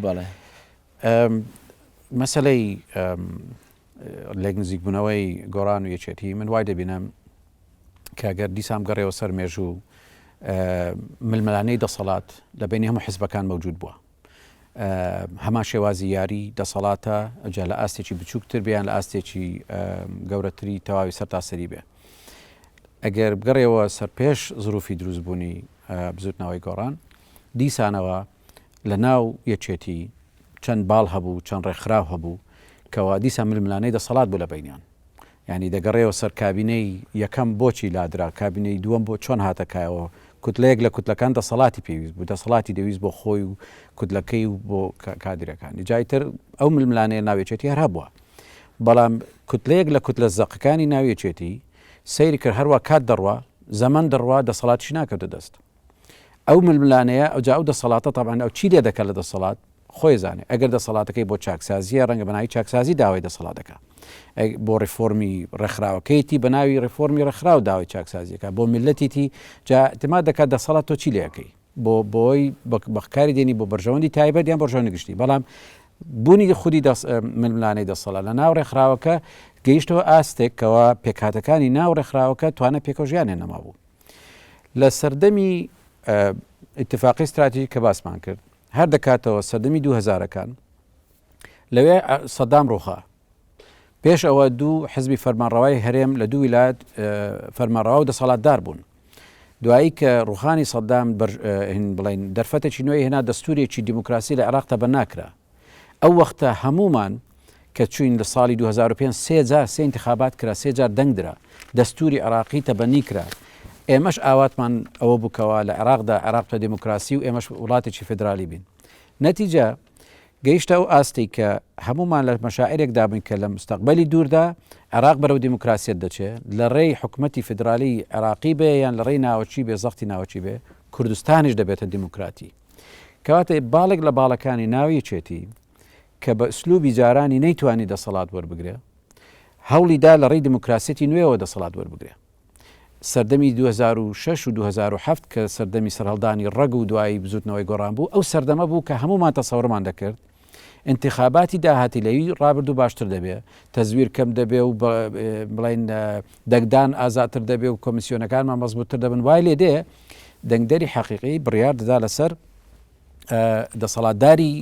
بەڵێ مەسەلەی لێک نزیک بوونەوەی گۆڕان و یەکێتی من وای دەبینم کە گەر دیسان گەڕێەوە سەر مێژوو ململانەی دەسەڵات لە بینی هەموو حزبەکان مەوجود بووە هەمان شێوازی یاری دەسەڵاتە جا لە ئاستێکی بچووکتر بیان لە ئاستێکی گەورەتری تەواوی سەر تاسەری بێ ئەگەر بگەڕێەوە سەر پێش زروفی دروستبوونی بزوتنەوەی گۆڕان دیسانەوە لە ناو یەکێتی چەند باڵ هەبوو چەند ڕێکخراو هەبوو کەوا دیسان ململانێی دەسەڵات بوو لە بەینیان یانی دەگەڕێەوە سەر کابینەی یەکەم بۆچی لادرا کابینەی دووەم بۆ چۆن هاتە کایەوە کوتلەیەک لە کوتلەکان دەسەڵاتی پێویست بوو دەسەڵاتی دەویست بۆ خۆی و کوتلەکەی و بۆ کادرەکانی جای تر ئەو ململانەیە ناوێچێتی هەر هەبووە بەڵام کوتلەیەک لە کوتلە زەقەکانی ناوێچێتی سەیری کرد هەروە کات دەڕوا زەمەن دەڕوا دەسەڵاتیش ناکەوتە دەست ئەو ململانێیە ئەوجا ئەو دەسەڵاتە تەبعەن ئەو چی لێدەکا لە دەسەڵات خۆی زانێ ئەگەر دەسەڵاتەکەی بۆ چاکسازیە ڕەنگە بەناوی چاکسازی داوای دەسەڵات دەکا بۆ ڕیفۆرمی ڕێکخراوەکەیتی بەناوی ڕیفۆرمی ڕێکخراو داوای چاکسازیەکە بۆ میلەتیتی جا تما دەکات دەسەڵات تۆ چی لەکەی بۆ بۆی بەکاری دێنی بۆ بەرژەوەندی تایبەت یان بەرژەوەندی گشتی بەڵام بوونی خودی ململانەی دەسەڵات لە ناو ڕێکخراوەکە گەیشتەوە ئاستێکەوە پێکاتەکانی ناو ڕێکخراوەکە توانە پێکەوژیانێ نەما بوو لە سەردەمی ئیتفاقی ستراتیژی کە باسمان کرد هەر دەکاتەوە سەردەمی دوو هزارەکان لەوێ سەدام ڕوخا پێش ئەوە دوو حزبی فەرمانڕەوای هەرێم لە دوو ویلات فەرمانڕەوا و دەسەڵاتدار بوون دوایی کە ڕوخانی سەدام بڵین دەرفەتێکی نوێی هێنا دەستورێکی دیموکراسی لە عێراق تە بە ناکرا ئەو وەختە هەموومان کە چووین لە ساڵی دوو هەزار و پێنج سێ جار سێ ئینتخابات کرا سێ جار دەنگ درا دەستووری عێراقی تەبەنی کرا ئێمەش ئاواتمان ئەوە بوو کەوا لە عێراقدا عێراق بە دێموکراسی و ئێمەش وڵاتێکی فیدرالی بین نەتیجە گەیشتە ئەو ئاستەی کە هەموومان لە مەشاعرێکدا بووین کە لە مستەقبەلی دووردا عێراق بەرەو دیموکراسیەت دەچێت لە ڕێی حکومەتی فیدرالی عێراقی بێ یان لە ڕێی ناوەچی بێ زەختی ناوەچی بێ کوردستانیش دەبێتە دیموکراتی کەواتە باڵێک لە باڵەکانی ناو یەکێتی کە بە ئسلوبی جارانی نەیتوانی دەسەڵات وەربگرێ هەوڵی دا لە ڕێی دیموکراسیەتی نوێەوە دەسەڵات وەربگرێ سەردەمی 2006 و 2007 کە سەردەمی سەرهەڵدانی ڕەگ و دوایی بزوتنەوەی گۆڕان بوو ئەو سەردەمە بوو کە هەمومان تەسەورمان دەکرد ئینتیخاباتی داهاتی لەوی ڕابردوو باشتر دەبێ، تەزویر کەم دەبێ و بڵێن دەنگدان ئازاتر دەبێ و کۆمیسیۆنەکانمان مەزبووتتر دەبن وای لێ دێ دەنگدەری حەقیقی بڕیار دەدا لەسەر دەسەڵاتداری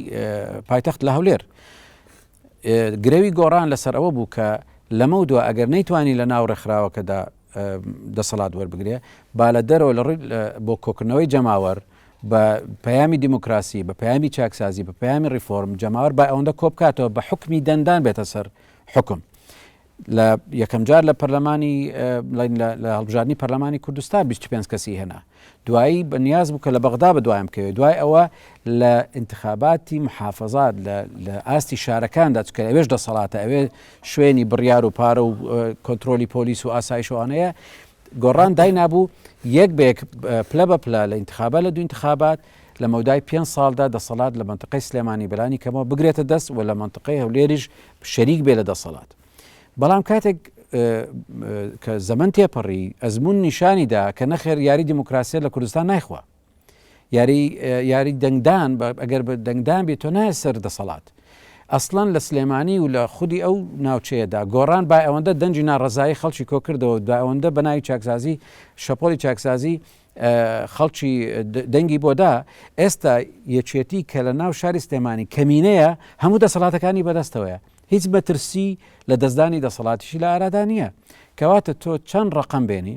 پایتەخت لە هەولێر گرەوی گۆڕان لەسەر ئەوە بوو کە لەمە و دو ئەگەر نەیتوانی لە ناو ڕێکخراوەکەدا دەسەڵات وەربگرێ با لە دەرەوە لە ڕووی بۆ کۆکردنەوەی جەماوەر بە پەیامی دیموکراسی، بە پەیامی چاکسازی، بە پەیامی ڕیفۆرم جەماوەر با ئەوەندە کۆبکاتەوە بە حکمی دەنگدان بێتە سەر حکم. لە یەکەم جار لە پەرلەمانی لە هەڵبژاردننی پەرلەمانی کوردستان 25 کەسی هێنا دوایی بە نیاز بوو کە لە بەغدا بە دوایم کەوێت دوای ئەوە لە انتخاباتی محافظات لە ئاستی شارەکاندا چکە ئەوێش دەسەڵاتە ئەوێ شوێنی بڕیار و پارە و کۆنتترۆلی پۆلیس و ئاسایشوانەیە گۆڕان داینابوو یەک بە یەک پلە بە پلە لە ئینتخابات لە دوو ئینتخابات لە مەودای پێنج ساڵدا دەسەڵات لە مەنتقەی سلێمانی بەلانی کەمەوە بگرێتە دەست و لە مەنتقەی هەولێریش شەریک بێ لە دەسەڵات بەڵام کاتێک کە زەمن تێپەڕی ئەزمون نیشانیدا کە نەخێر یاری دیموکراسیە لە کوردستان نایخوا یاری یاری دەنگدان ئەگەر بە دەنگدان بێت تۆ نایە سەر دەسەڵات ئەسڵەن لە سلێمانی و لە خودی ئەو ناوچەیەدا گۆڕان با ئەوەندە دەنجی ناڕزایی خەڵکی کۆکردەوە دا ئەوەندە بەناوی چاکسازی شەپۆلی چاکسازی خەڵکی دەنگی بۆدا ئێستا یەکێتی کە لە ناو شاری سلێمانی کەمینەیە هەموو دەسەڵاتەکانی بەدەستەوەیە هیچ بەترسی لە دەستدانی دەسەڵاتیشی لە ئارادا نییە کەواتە تۆ چەند ڕقم بێنی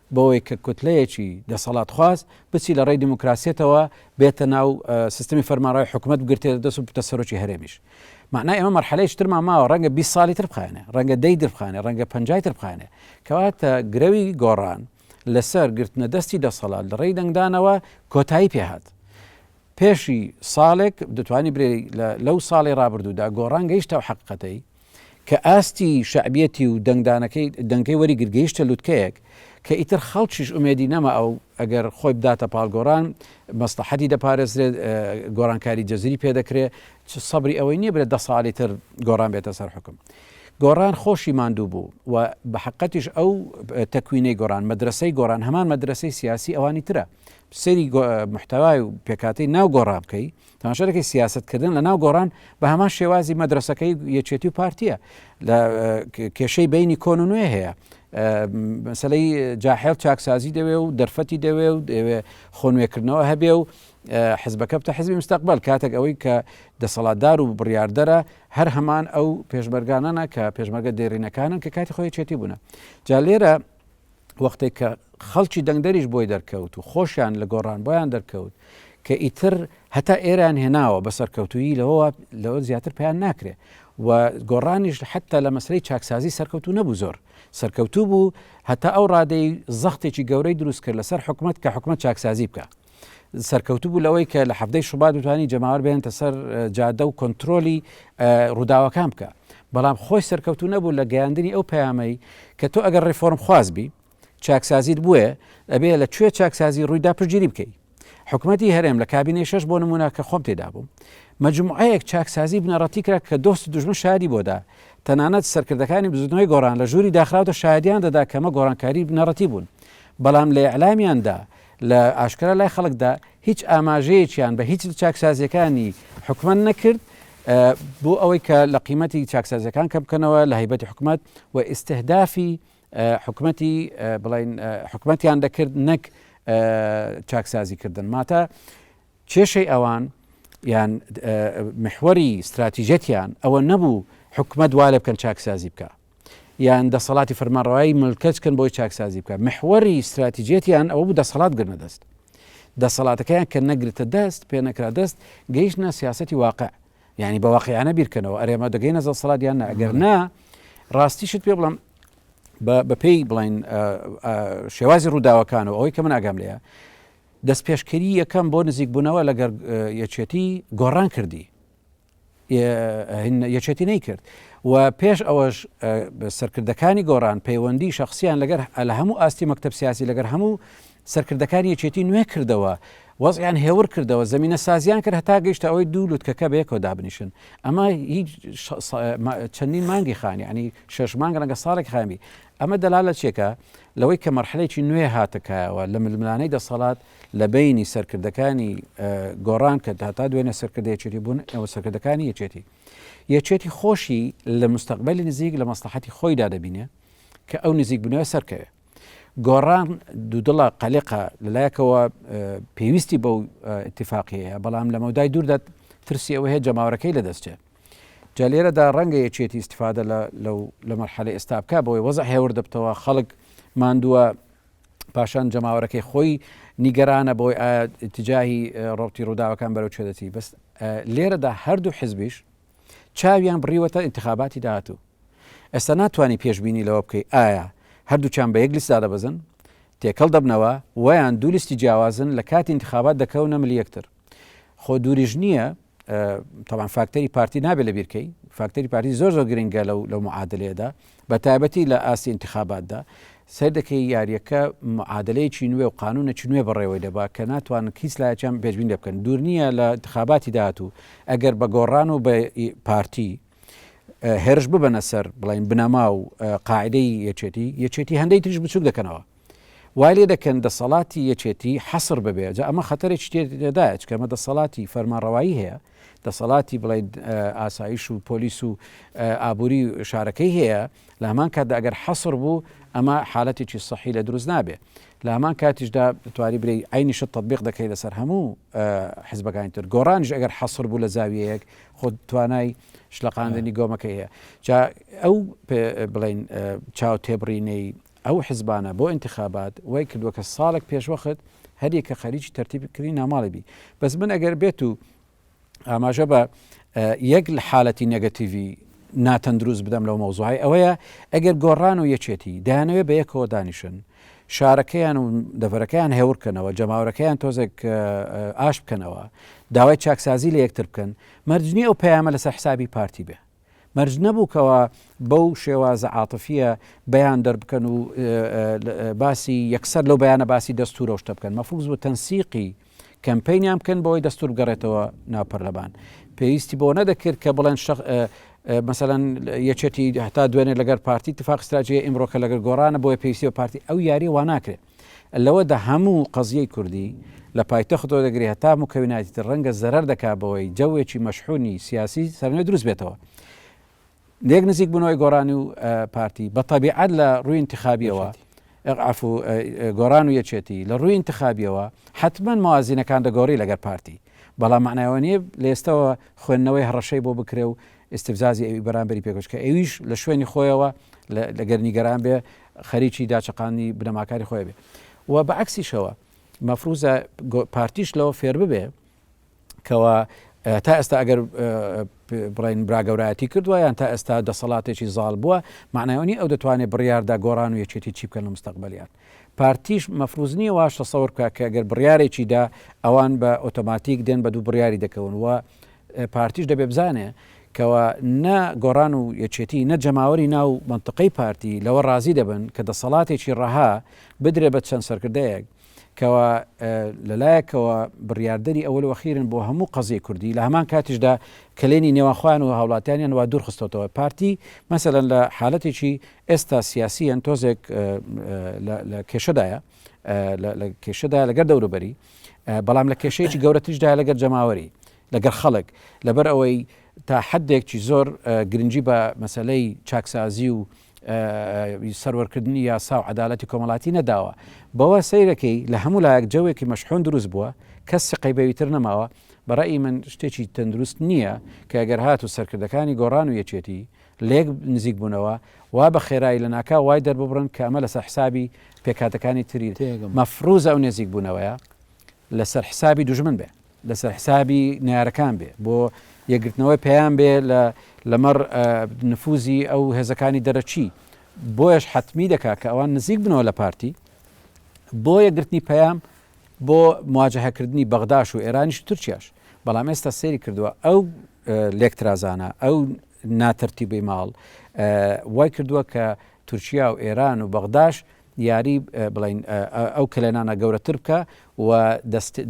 بۆوەی کە کوتلەیەکی دەسەڵاتخواز بچی لە ڕێی دیموکراسیەتەوە بێتە ناو سیستمی فەرمانڕەوای حکومەت بگرتێتە دەست و بتە سەرۆکی هەرێمیش معنای ئەمە مەرحەلەیەکی ترمان ماوە ڕەنگە 20 ساڵی تر بخایەنێ ڕەنگە دەی تر بخانێ ڕەنگە پەنجای تر بخانێ کەواتە گرەوی گۆڕان لەسەر گرتنە دەستی دەسەڵات لە ڕێی دەنگدانەوە کۆتایی پێهات پێشی ساڵێک دەتوانی برێ لەو ساڵی ڕابردوودا گۆڕان گەیشتە و حقەتەی کە ئاستی شەعبیەتی و دەنگدانەکەی دەنگەکەی وەریگرت گەیشتە لوتکەیەک کە ئیتر خەڵکیش ئومێدی نەما ئەو ئەگەر خۆی بداتە پاڵ گۆڕان مەسڵەحەتی دەپارێزرێت گۆڕانکاری جەزری پێدەکرێت چ سەبری ئەوەی نییە برێت دە ساڵی تر گۆڕان بێتە سەر حکم گۆڕان خۆشی ماندوو بوو و بە حقەتیش ئەو تەکوینەی گۆڕان مەدرسەی گۆڕان هەمان مەدرسەی سیاسی ئەوانی ترە سری محتوای و پێکاتی ناو گۆڕان بکەی تەماشا دەکەی سیاسەت کردن لە ناو گۆڕان بە هەمان شێوازی مەدرسەکەی یەکێتی و پارتیە لە کێشەی بینی کۆن و نوێ هەیە مەسلەی جاحێڵ چاکسازی دەوێ و دەرفەتی دەوێ و دەوێ خۆنوێکردنەوە هەبێ و حزبەکە بتە حزبی مستەقبل کاتێک ئەوەی کە دەسەڵاتدار و بڕاردەرە هەر هەمان ئەو پێشمەرگانانە کە پێشمەرگە دێرینەکانن کە کاتی خۆی چێتی بوون جا لێرە وەختێک کە خەڵکی دەنگدەریش بۆی دەرکەوت و خۆشیان لە گۆڕان بۆیان دەرکەوت کە ئیتر هەتا ئێران هێناوە بە سەرکەوتویی لەوە لەوە زیاتر پێیان ناکرێ و گۆڕانیش حتا لە مەسلەی چاکسازی سەرکەوتو نەبوو زۆر سەرکەوتوو بوو هەتا ئەو ڕادەی زەختێکی گەورەی دروست کرد لەسەر حکومت کە حکومت چاکسازی بکە سەرکەوتوو بوو لەوەی کە لە حەفتەی شوبات بتوانانی جەماوەر بێنێتە سەر جادە و کۆنتترۆلی ڕووداوەکان بکە بەڵام خۆی سەرکەوتوو نەبوو لە گەیاندنی ئەو پەیامەی کە تۆ ئەگەر ڕێفۆرم خواز بی چاکسازیت بووە ئەبێ لە کوێ چاکسازی ڕوویدا پشگیری بکەیت حکوومەتتی هەرێم لە کابینەی شش بۆ نمونە کە خۆم تێدا بووم مجموعەیەک چاکسازی بنەڕەتی کرا کە دۆست دژمن شادی بۆدا تەنانەت سەرکردەکانی بزودنەوەی گۆران لە ژووری داخراوتە شادیان دەدا کەمە گۆڕانکاری بنەڕەتی بوون بەڵام لە ئەلامیاندا لە ئاشکرا لای خەڵکدا هیچ ئاماژەیەکیان بە هیچ لە چاکسازییەکانی حکومەت نەکرد بۆ ئەوەی کە لە قیمەتی چاکسازیەکان کە بکەنەوە لە هیبەتی حکومت و ئیسهدافی حکومەتی بڵین حکومەتیان دەکرد نەک چاکسازی کردن ماتە کێشەی ئەوان یان محوەری استراتیژەتیان ئەوە نەبوو حکومت وا لە بکەن چاکسازی بکە یان دەسەڵاتی فەرمانڕەوایی ملکەچ کەن بۆی چاکسازی بکە محوەری ستراتیجێتیان ئەوە بوو دەسەڵات گرنە دەست دەسەڵاتەکەیان کە نەگرتە دەست پێ نەکرا دەست گەیشتە سیاستی واقع یعنی بە واقعیانە بیرکەنەوە ئەرێمە دەگەینە دەسەڵات یان ئەگەر نا ڕاستیشت پێ بڵم بەپێی بڵین شێوازی ڕووداوەکانەوە ئەوەی کە من ئاگام لەیە دەست پێشکەری یەکەم بۆ نزیک بوونەوە لەگەر یەکێتی گۆڕان کردی یەکێتی نەیکرد و پێش ئەوەش سەرکردەکانی گۆڕان پەیوەندی شخصیان لەگەر لە هەموو ئاستی مەکتب سیاسی لەگەر هەموو سەرکردەکانی یەکێتی نوێ کردەوە وەزیان هێور کردەوە زمینە سازیان کرد هەتا گەیشتە ئەوەی دوو لوتکەکە بەیەکەوە دابنیشن ئەمە هیچ چەندین مانگی خانی ینی شش مانگ ڕەنگە ساڵێک خامی ئەمە دەلا لە چێکە لەوەی کە مەرحلێکی نوێ هاتەکایەوە لە ململانەی دەسەڵات لە بەینی سەرکردەکانی گۆڕان کە هەتا دوێنێ سەرکردە یەکێتی بوون ئێوە سەرکردەکانی یەکێتی یەکێتی خۆشی لە مستەقبەلی نزیک لە مەسلحەتی خۆیدا دەبینێ کە ئەو نزیک بنەوە سەرکەوێ گۆڕان دوودڵە قەلقە لەلایەکەوە پێویستی بەو اتفاقیەیە بەڵام لە مەودای دووردا ترسی ئەوە هەیە جەماورەکەی لە دەستێ جا لێرەدا ڕەنگە یەکێتی استفادە لە مەرحەلە ئێستا بکە بۆی وەزە هێور دەبتەوە خەڵک ماندووە پاشان جەماوەرەکەی خۆی نیگەرانە بۆی ئایا تجاهی ڕوتی ڕووداوەکان بەرەو چێ دەچی بەس لێرەدا هەردوو حزبیش چاویان بڕیوەتە انتخاباتی داهاتوو ئێستا ناتوانانی پێشببینی لەوە بکەیت ئایا هەردووچان بە یەک لیستا دەبەزن تێکەڵ دەبنەوە ویان دوو لیستی جیاوازن لە کاتی انتخابات دەکەونە ملیەکتر خۆ دووریش نییە تەبعەن فاکتەری پارتی نابێت لە بیرکەی فاکتەری پارتی زۆر زۆر گرنگە لەو لەو معادلەیەدا بە تایبەتی لە ئاستی انتخاباتدا سەر دەکەی یاریەکە معادلەیەکی نوێ و قانونە چ نوێ بەڕێوەی دەبا کە ناتوان کیس لایەن بێژبین لێ بکەن دوور نییە لە انتخاباتی داهاتوو ئەگەر بە گۆڕان و بە پارتی هێرش ببەنە سەر بڵین بنەما و قاعدەی یەچێتی یەچێتی هەندێک تریش بچوک دەکەنەوە وای لێ دەکەن دەسەڵاتی یەکێتی حەسڕ ببێ جا ئەمە خەتەرێکی تێدایە چکە ئەمە دەسەڵاتی فەرمانڕەوایی هەیە دەسەڵاتی بڵێین ئاسایش و پۆلیس و ئابووری شارەکەی هەیە لە هەمان کاتدا ئەگەر حەسڕ بوو ئەمە حالەتێکی سەحی لە دروست نابێ لە هەمان کاتیشدا تواری برێ ئەینیشە تطببیق دەکەی لەسەر هەموو حزبەکانی تر گۆڕانش ئەگەر حەسر بوو لە زاویەیەک خۆ توانای شلەقاندنی گۆمەکە هەیە جا ئەو بڵین چاو تێبڕینەی ئەو حزبانە بۆ انتخابات وای کردوە کە ساڵێک پێشوەخت هەر یەکە خەریکی تەرتیب کردنی ناماڵی بی بەس من ئەگەر بێت و ئاماژە بە یەک لە حالەتی نەگەتیڤی ناتەندروست بدەم لەو مەوزوعی ئەوەیە ئەگەر گۆڕان و یەکێتی دایانەوێ بە یەکەوە دانیشن شارەکەیان و دەڤەرەکەیان هێورکەنەوە جەماورەکەیان تۆزێک ئاش بکەنەوە داوای چاکسازی لە یەکتر بکەن مەرجنی ئەو پەیامە لەسەر حسابی پارتی بێ مەرج نەبوو کەوا بەو شێوازە عاتفیە بەیان دەربکەن و باسی یەکسەر لەو بەیانە باسی دەستورە شتە بکەن مەفوز بۆ تەنسیقی کەمپینیان بکەن بۆی دەستور بگەڕێتەوە ناپەرلەبان پێویستی بۆ نەدەکرد کە بڵێن شخ مثلا یەکێتی هەتا دوێنێ لەگەر پارتی تفاق ستراجی ئمرۆکە لەگەر گۆرانە بۆیە پێویستی بە پارتی ئەو یاری واناکرێت لەوەدا هەموو قەزیەی کوردی لە پایتەختەوە دەگری هەتا موکەویناتی تر رەنگە زەرەر دەکا بەوەی جەوێکی مەشحونی سیاسی سەرنوێ دروست بێتەوە لێک نزیک بونەوەی گۆرانی و پارتی بە تەبیعەت لە رووی انتخابیەوە عفو گۆران و یەکێتی لە رووی انتخابیەوە حتمما موازینەکان دەگۆری لەگەر پارتی بەڵام معنایەوە نیە لێستەوە خوێندنەوەی هەڕەشەی بۆ بکرێ و استفزازی ئەوی بەرامبەری پێکەوە چکە ئەویش لە شوێنی خۆیەوە لەگەر نیگەران بێ خەریکی داچەقاندنی بنەماکانی خۆی ئەبێ و بە عەکسیشەوە مەفروزە پارتیش لەوە فێر ببێ کەوا تا ئێستا ئەگەر بڵین براگەورایەتی کردووە یان تا ئێستا دەسەڵاتێکی زاڵ بووە معنایۆنی ئەو دەتوانێت بڕیاردا گۆڕان و یەکێتی چی بکەن لە مستەقبلیان پارتیش مەفروزنی واشە سەور بکە کە گەر بڕارێکیدا ئەوان بە ئۆتۆماتیک دێن بە دوو بڕیاری دەکەون وە پارتیش دەبێ بزانێ کەوا نە گۆڕان و یەکێتی نە جەماوەری ناو مەنتقەی پارتی لەوە ڕازی دەبن کە دەسەڵاتێکی ڕەها بدرێ بە چەند سەرکردەیەک کەوا لەلایەکەوە بڕیاردەری ئەوەل وەخیرن بۆ هەموو قەزیی کوردی لە هەمان کاتیشدا کلێنی نێوانخوان و هاوڵاتیانیان وا دوورخستەوە پارتی مەسەن لە حالەتێکی ئێستا سیاسیەن تۆزێک لە کێشەدایە لە کێشەدا لەگەر دەوروبەری بەڵام لە کێشەیەکی گەورەتریشدا لەگەر جەماوەری لەگەر خەڵک لەبەر ئەوەی تا حدێکی زۆر گرنگجی بە مەسلەی چاکسازی و سەروەرکردنی یاسا و عدالەتی کۆمەڵاتی نەداوە بەوە سیرەکەی لە هەموو لایەک جەوێکی مەشحۆن دروست بووە کەس سقەی بەویتر نەماوە بەڕی من شتێکی تەندروست نییە کە گەر هات و سەرکردەکانی گۆڕان و یەکێتی لێک نزیک بوونەوە وا بە خێرایی لە ناکاو وای دەرببڕن کە ئەمە لەسەر حسابی پێکهاتەکانی تری تێگەم. مەفروزە ئەو نێزیک بوونەوەیە لەسەر حسابی دوژمن بێ لەسەر حسابی نەیارەکان بێ بۆ یەکگرتنەوەی پەیام بێ لە لەمەڕ نفوزی ئەو هێزەکانی دەرەچی بۆیش حتمی دەکا کە ئەوان نزیک بنەوە لە پارتی بۆ یەکگرتنی پەیام بۆ مواجههکردنی بەغداش و ئێرانیش تورکیاش بەڵام ئێستا سێری کردووە ئەو لێکترازانە ئەو ناتەرتیبی ماڵ وای کردووە کە تورکیا و ئێران و بەغداش یاری بڵین ئەو کلێنانە گەورەتر بکە و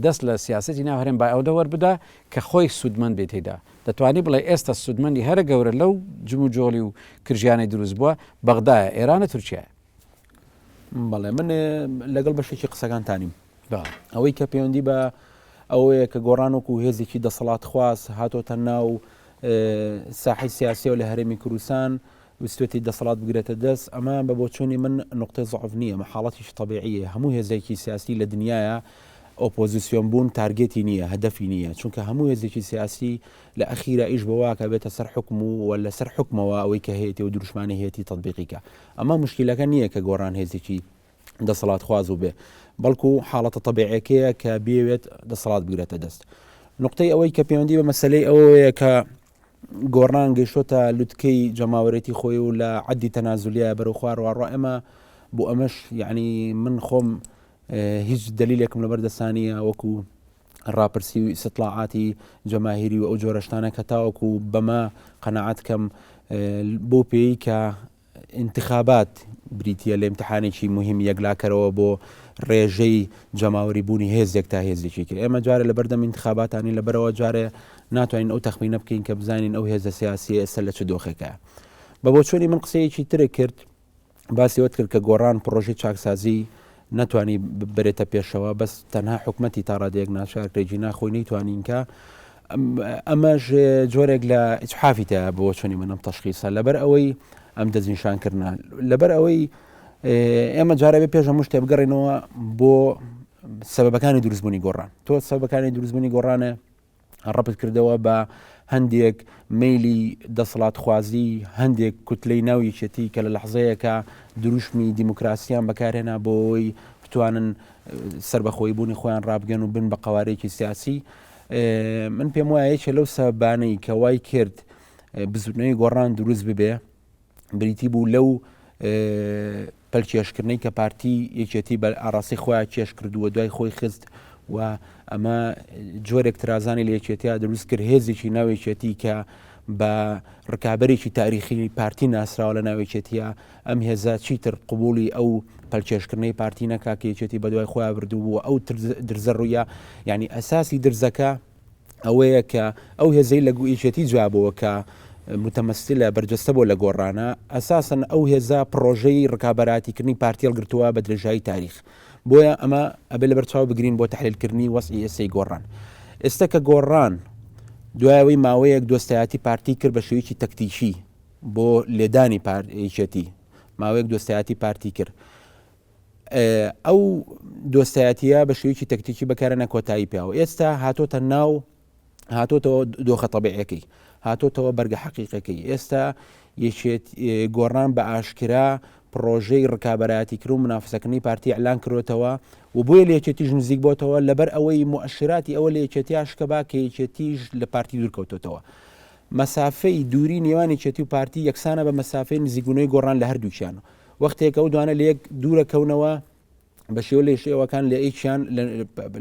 دەست لە سیاستی ناو هەرێم با ئەوە وەربدا کە خۆی سوودمەند بێت تێدا دەتوانی بڵێ ئێستا سوودمەندی هەرە گەورە لەو جم و جۆڵی و کرژیانەی دروست بووە بەغدایە ئێرانە تورکیایە بەڵێ من لەگەڵ بەشێکی قسەکانتانیم بە ئەوەی کە پەیوەندی بە ئەوەیە کە گۆڕان وەکو هێزێکی دەسەڵاتخواز هاتۆتە ناو ساحی سیاسیەوە لە هەرێمی کوردستان وستێتی دەسەڵات بگرێتە دەست ئەمە بە بۆچوونی من نقطەی زعف نییە مە حاڵەتیش طببیعە هەموو هێزێکی سیاسی لە دنیاە ئۆپۆزیسیۆن بوون تارگێتی نییە هەدەفی نییە چونکە هەموو هێزێکی سیاسی لە ئەخیرا ئیش بەواکە بێتە سەر حکم و لەسەر حکمەوە ئەوەی کە هەیەی و دروشمانی هەیەی تطببیقیکە ئەمە مشکلەکە نییە کە گۆڕان هێزێکی دەسەڵاتخواز بووبێ، بەڵکو حاڵەتە تەبیعیەکەیە کە بێوێت دەسەڵات بگرێتە دەست. نقطەی ئەوەی کە پەیوەندی بە مەسلەی ئەوەیە کە گۆڕان گەشتۆتە لوتکەی جەماوەرێتی خۆی و لە عەدی تەنازولیە بەرەو خوارڕواڕۆ ئەمە بۆ ئەمەش یعنی من خۆم هیچ دلیلێکم لەبەر دەسانیە وەکو ڕاپرسی و ئیسلاعاتی جەماهیری و ئەو جۆرەشتانە کە تاوەکو بەمە قەنەعات کەم بۆ پێی کە ئینتخابات بریتییە لە ئیمتحانێکی موهیم یەکلاکەرەوە بۆ ڕێژەی جەماوەری بوونی هێزێک تا هێزێکی کرد ئێمە جارێ لە بەردەم ئینتخاباتانی لەبەرەوە جارێ ناتوانین ئەو تەخمینە بکەین کە بزانین ئەو هێزە سیاسی ئێستا لە چ دۆخێکە بە بۆ چۆنی من قسەیەکی ترێ کرد باسی وت کرد کە گۆڕان پرۆژی چاکسازی ناتوانانی ببرێتە پێشەوە بەس تەنها حکومەتی تاڕادێک ناشارکرێکی ناخۆی نەیتوانینکە ئەمەش جۆرێک لە ئیتحافی تە بۆ چۆنی من ئەم تەشخیسە لەبەر ئەوەی ئەم دەستنیشان کردن لەبەر ئەوەی ئێمە جارەبێ پێش هەموو شتێ بگەڕێنەوە بۆ سەبەکانی دروستبوونی گۆڕان تۆ سەبەکانی دروستبوونی گۆڕانە ڕپت کردەوە بە هەندێک میلی دەسەڵات خوازی هەندێک کوتلەی ناو یەکێتی کە لە لەحزەیەەکە دروشمی دیموکراسیان بەکارێنا بۆەوەی بتوانن سربەخۆی بوونی خۆیان ڕابگەن و بن بە قوارێکی سیاسی من پێم وایە یەکێ لەو سەبانەی کە وای کرد بزوتنەوەی گۆڕان دروست ببێ بریتی بوو لەو پەلکێشکردنەی کە پارتی یەکێتی بە ئاراسی خۆیان کێش کردووە دوای خۆی خست و ئەمە جۆرێک ترازانی لە یەکێتیا دروست کرد هێزێکی ناوێکێتی کە بە ڕکابێکی تاریخی پارتی ناسراوە لە ناوێکێتە ئەم هێزە چیتر قبوڵی ئەو پەلکێشکردنەی پارتی نەکا کە یەکێتی بەدوای خۆیان بردبوو و ئەو درزە ڕوویە یعنی ئەساسی درزەکە ئەوەیە کە ئەو هێزەی لە یەکێتی جوابەوە کە متەمەسیلە بەرجەستە بۆ لە گۆڕانە ئەساسن ئەو هێزە پرۆژەی ڕکابەراتیکردنی پارتیل گرتووە بە درێژایی تاریخ بۆیە ئەمە ئەبێ لە بەرچاو بگرین بۆ تحلیلکردنی وەسی ئێسەی گۆڕان ئێستا کە گۆڕان دوایەوەی ماوەیەک دۆستایەتی پارتی کرد بە شێویی تەکتیکی بۆ لێدانی پار یەکێتی ماوەیەک دۆستایەتی پارتی کرد ئەو دۆستایەتیە بە شێوکی تەکتیکی بەکارەە کۆتایی پیاوە ئێستا هاتۆتە ناو هاتۆتەوە دۆخە تەبعەکەی هاتۆتەوە بەرگە حەقیقەکەی ئێستا یەکێت گۆڕان بە ئاشکرا پرۆژەی ڕکابەتی کرد و منافسەکردنی پارتی ئەلان کرۆتەوە و بۆیە لە یەکێتیش نزیک بۆتەوە لەبەر ئەوەی موعشراتی ئەوە لە یەکێتیاش کە با کە یەکێتیش لە پارتی دوورکەوتوتەوە مەسافەی دووری نێوان یەکێتی و پارتی یەکسانە بە مەسافەی نزیکبوونەوەی گۆڕان لە هەردووکیان. وەختێک ئەو دوانە لە یەک دوورە کەونەوە بە شێوە لە شێوەکان لە ئێکیان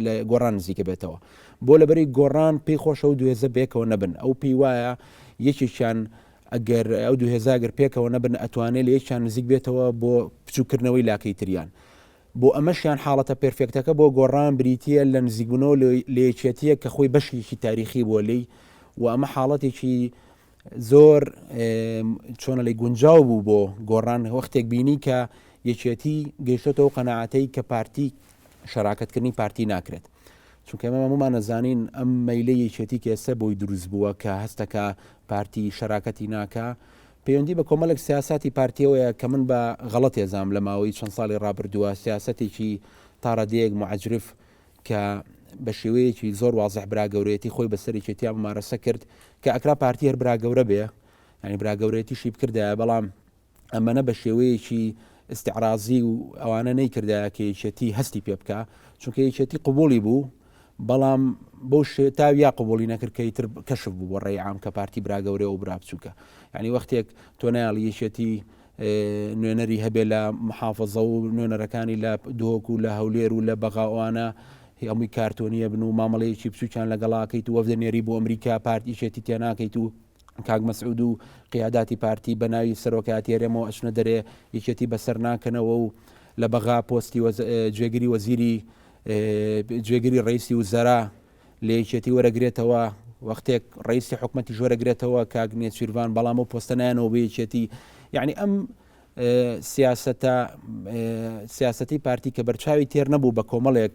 لە گۆڕان نزیکە بێتەوە بۆ لەبەری گۆڕان پێی خۆشە و دوێزە بێکەوە نەبن ئەو پێی وایە یەکێکیان ئەگەر ئەو دوهێزاگەر پێکەوە نەبن ئەتوانێت لە یەکیان نزیک بێتەوە بۆ بچووکردنەوەی لاکەی تریان بۆ ئەمەشیان حاڵەتە پێرفێکتەکە بۆ گۆڕان بریتییە لە نزیکبوونەوە لە یەکێتییەک کە خۆی بەشێکی تاریخی بووە لێی و ئەمە حاڵەتێکی زۆر چۆنە لەی گونجاو بوو بۆ گۆڕان وەختێک بینی کە یەکێتی گەیشتەوە قەنەعاتەی کە پارتی شەراکەتکردنی پارتی ناکرێت چونکە ئەمە هەمومان نەزانین ئەم مەیلە یەکێتی کێسە بۆی دروست بووە کە هەستەکە پارتی شەراکەتی ناکە پەیوەندی بە کۆمەلێک سیاساتی پارتیەوەیە کە من بە غەڵەت ێزام لە ماوەی چەند سالی ڕابردووە سیاسەتێکی تا ڕادەیەک موعجرف کە بە شێوەیەکی زۆر وازح برا گەورەیەتی خۆی بە سەری چێتیا ممارەسە کرد کە ئەکرا پارتی هەر برا گەورە بێ ینی برا گەورەیەتیشی بکردایە بەڵام ئەمەە بە شێوەیەکی استعرازی و ئەوانە نەیکردایە کە یەکێتی هەستی پێ بکە چونکە یەکێتی قوبولی بوو بەڵام بۆ شێ تا یا قوبولی نەکرد کە ئیتر کەشف بوو بۆ ڕێی عام کە پارتی برا گەورە و برا بچووکە یعنی وەختێک تۆ نایڵی یەکێتی نوێنەری هەبێ لە محافظە و نوێنەرەکانی لە دۆک و لە هەولێر و لە بەغاوانە هەمووی کارتۆنیە بن و مامەڵەیەکی بچووکیان لەگەڵاکەیت و وەفدە نێری بۆ ئەمریکا پارتیشێتی تێناکەیت و کاک مەسعود و قیاداتی پارتی بە ناوی سەرۆکایەتی هەرێمەوە ئەچنە دەرێ یەکێتی بەسەر ناکەنەوە و لە بەغا پۆستی جێگری وەزیری جێگری ڕیسی و زەرا لە یەکێتی وەرەگرێتەوە وەختێک ڕیسی حکومەتی ژۆرەگرێتەوە کاک نێچیرڤان بەڵام و پۆستەنایەنەوە بەیەکێتی یعنی ئەم سیاستە سیاستی پارتی کە بەرچاوی تێر نەبوو بە کۆمەڵێک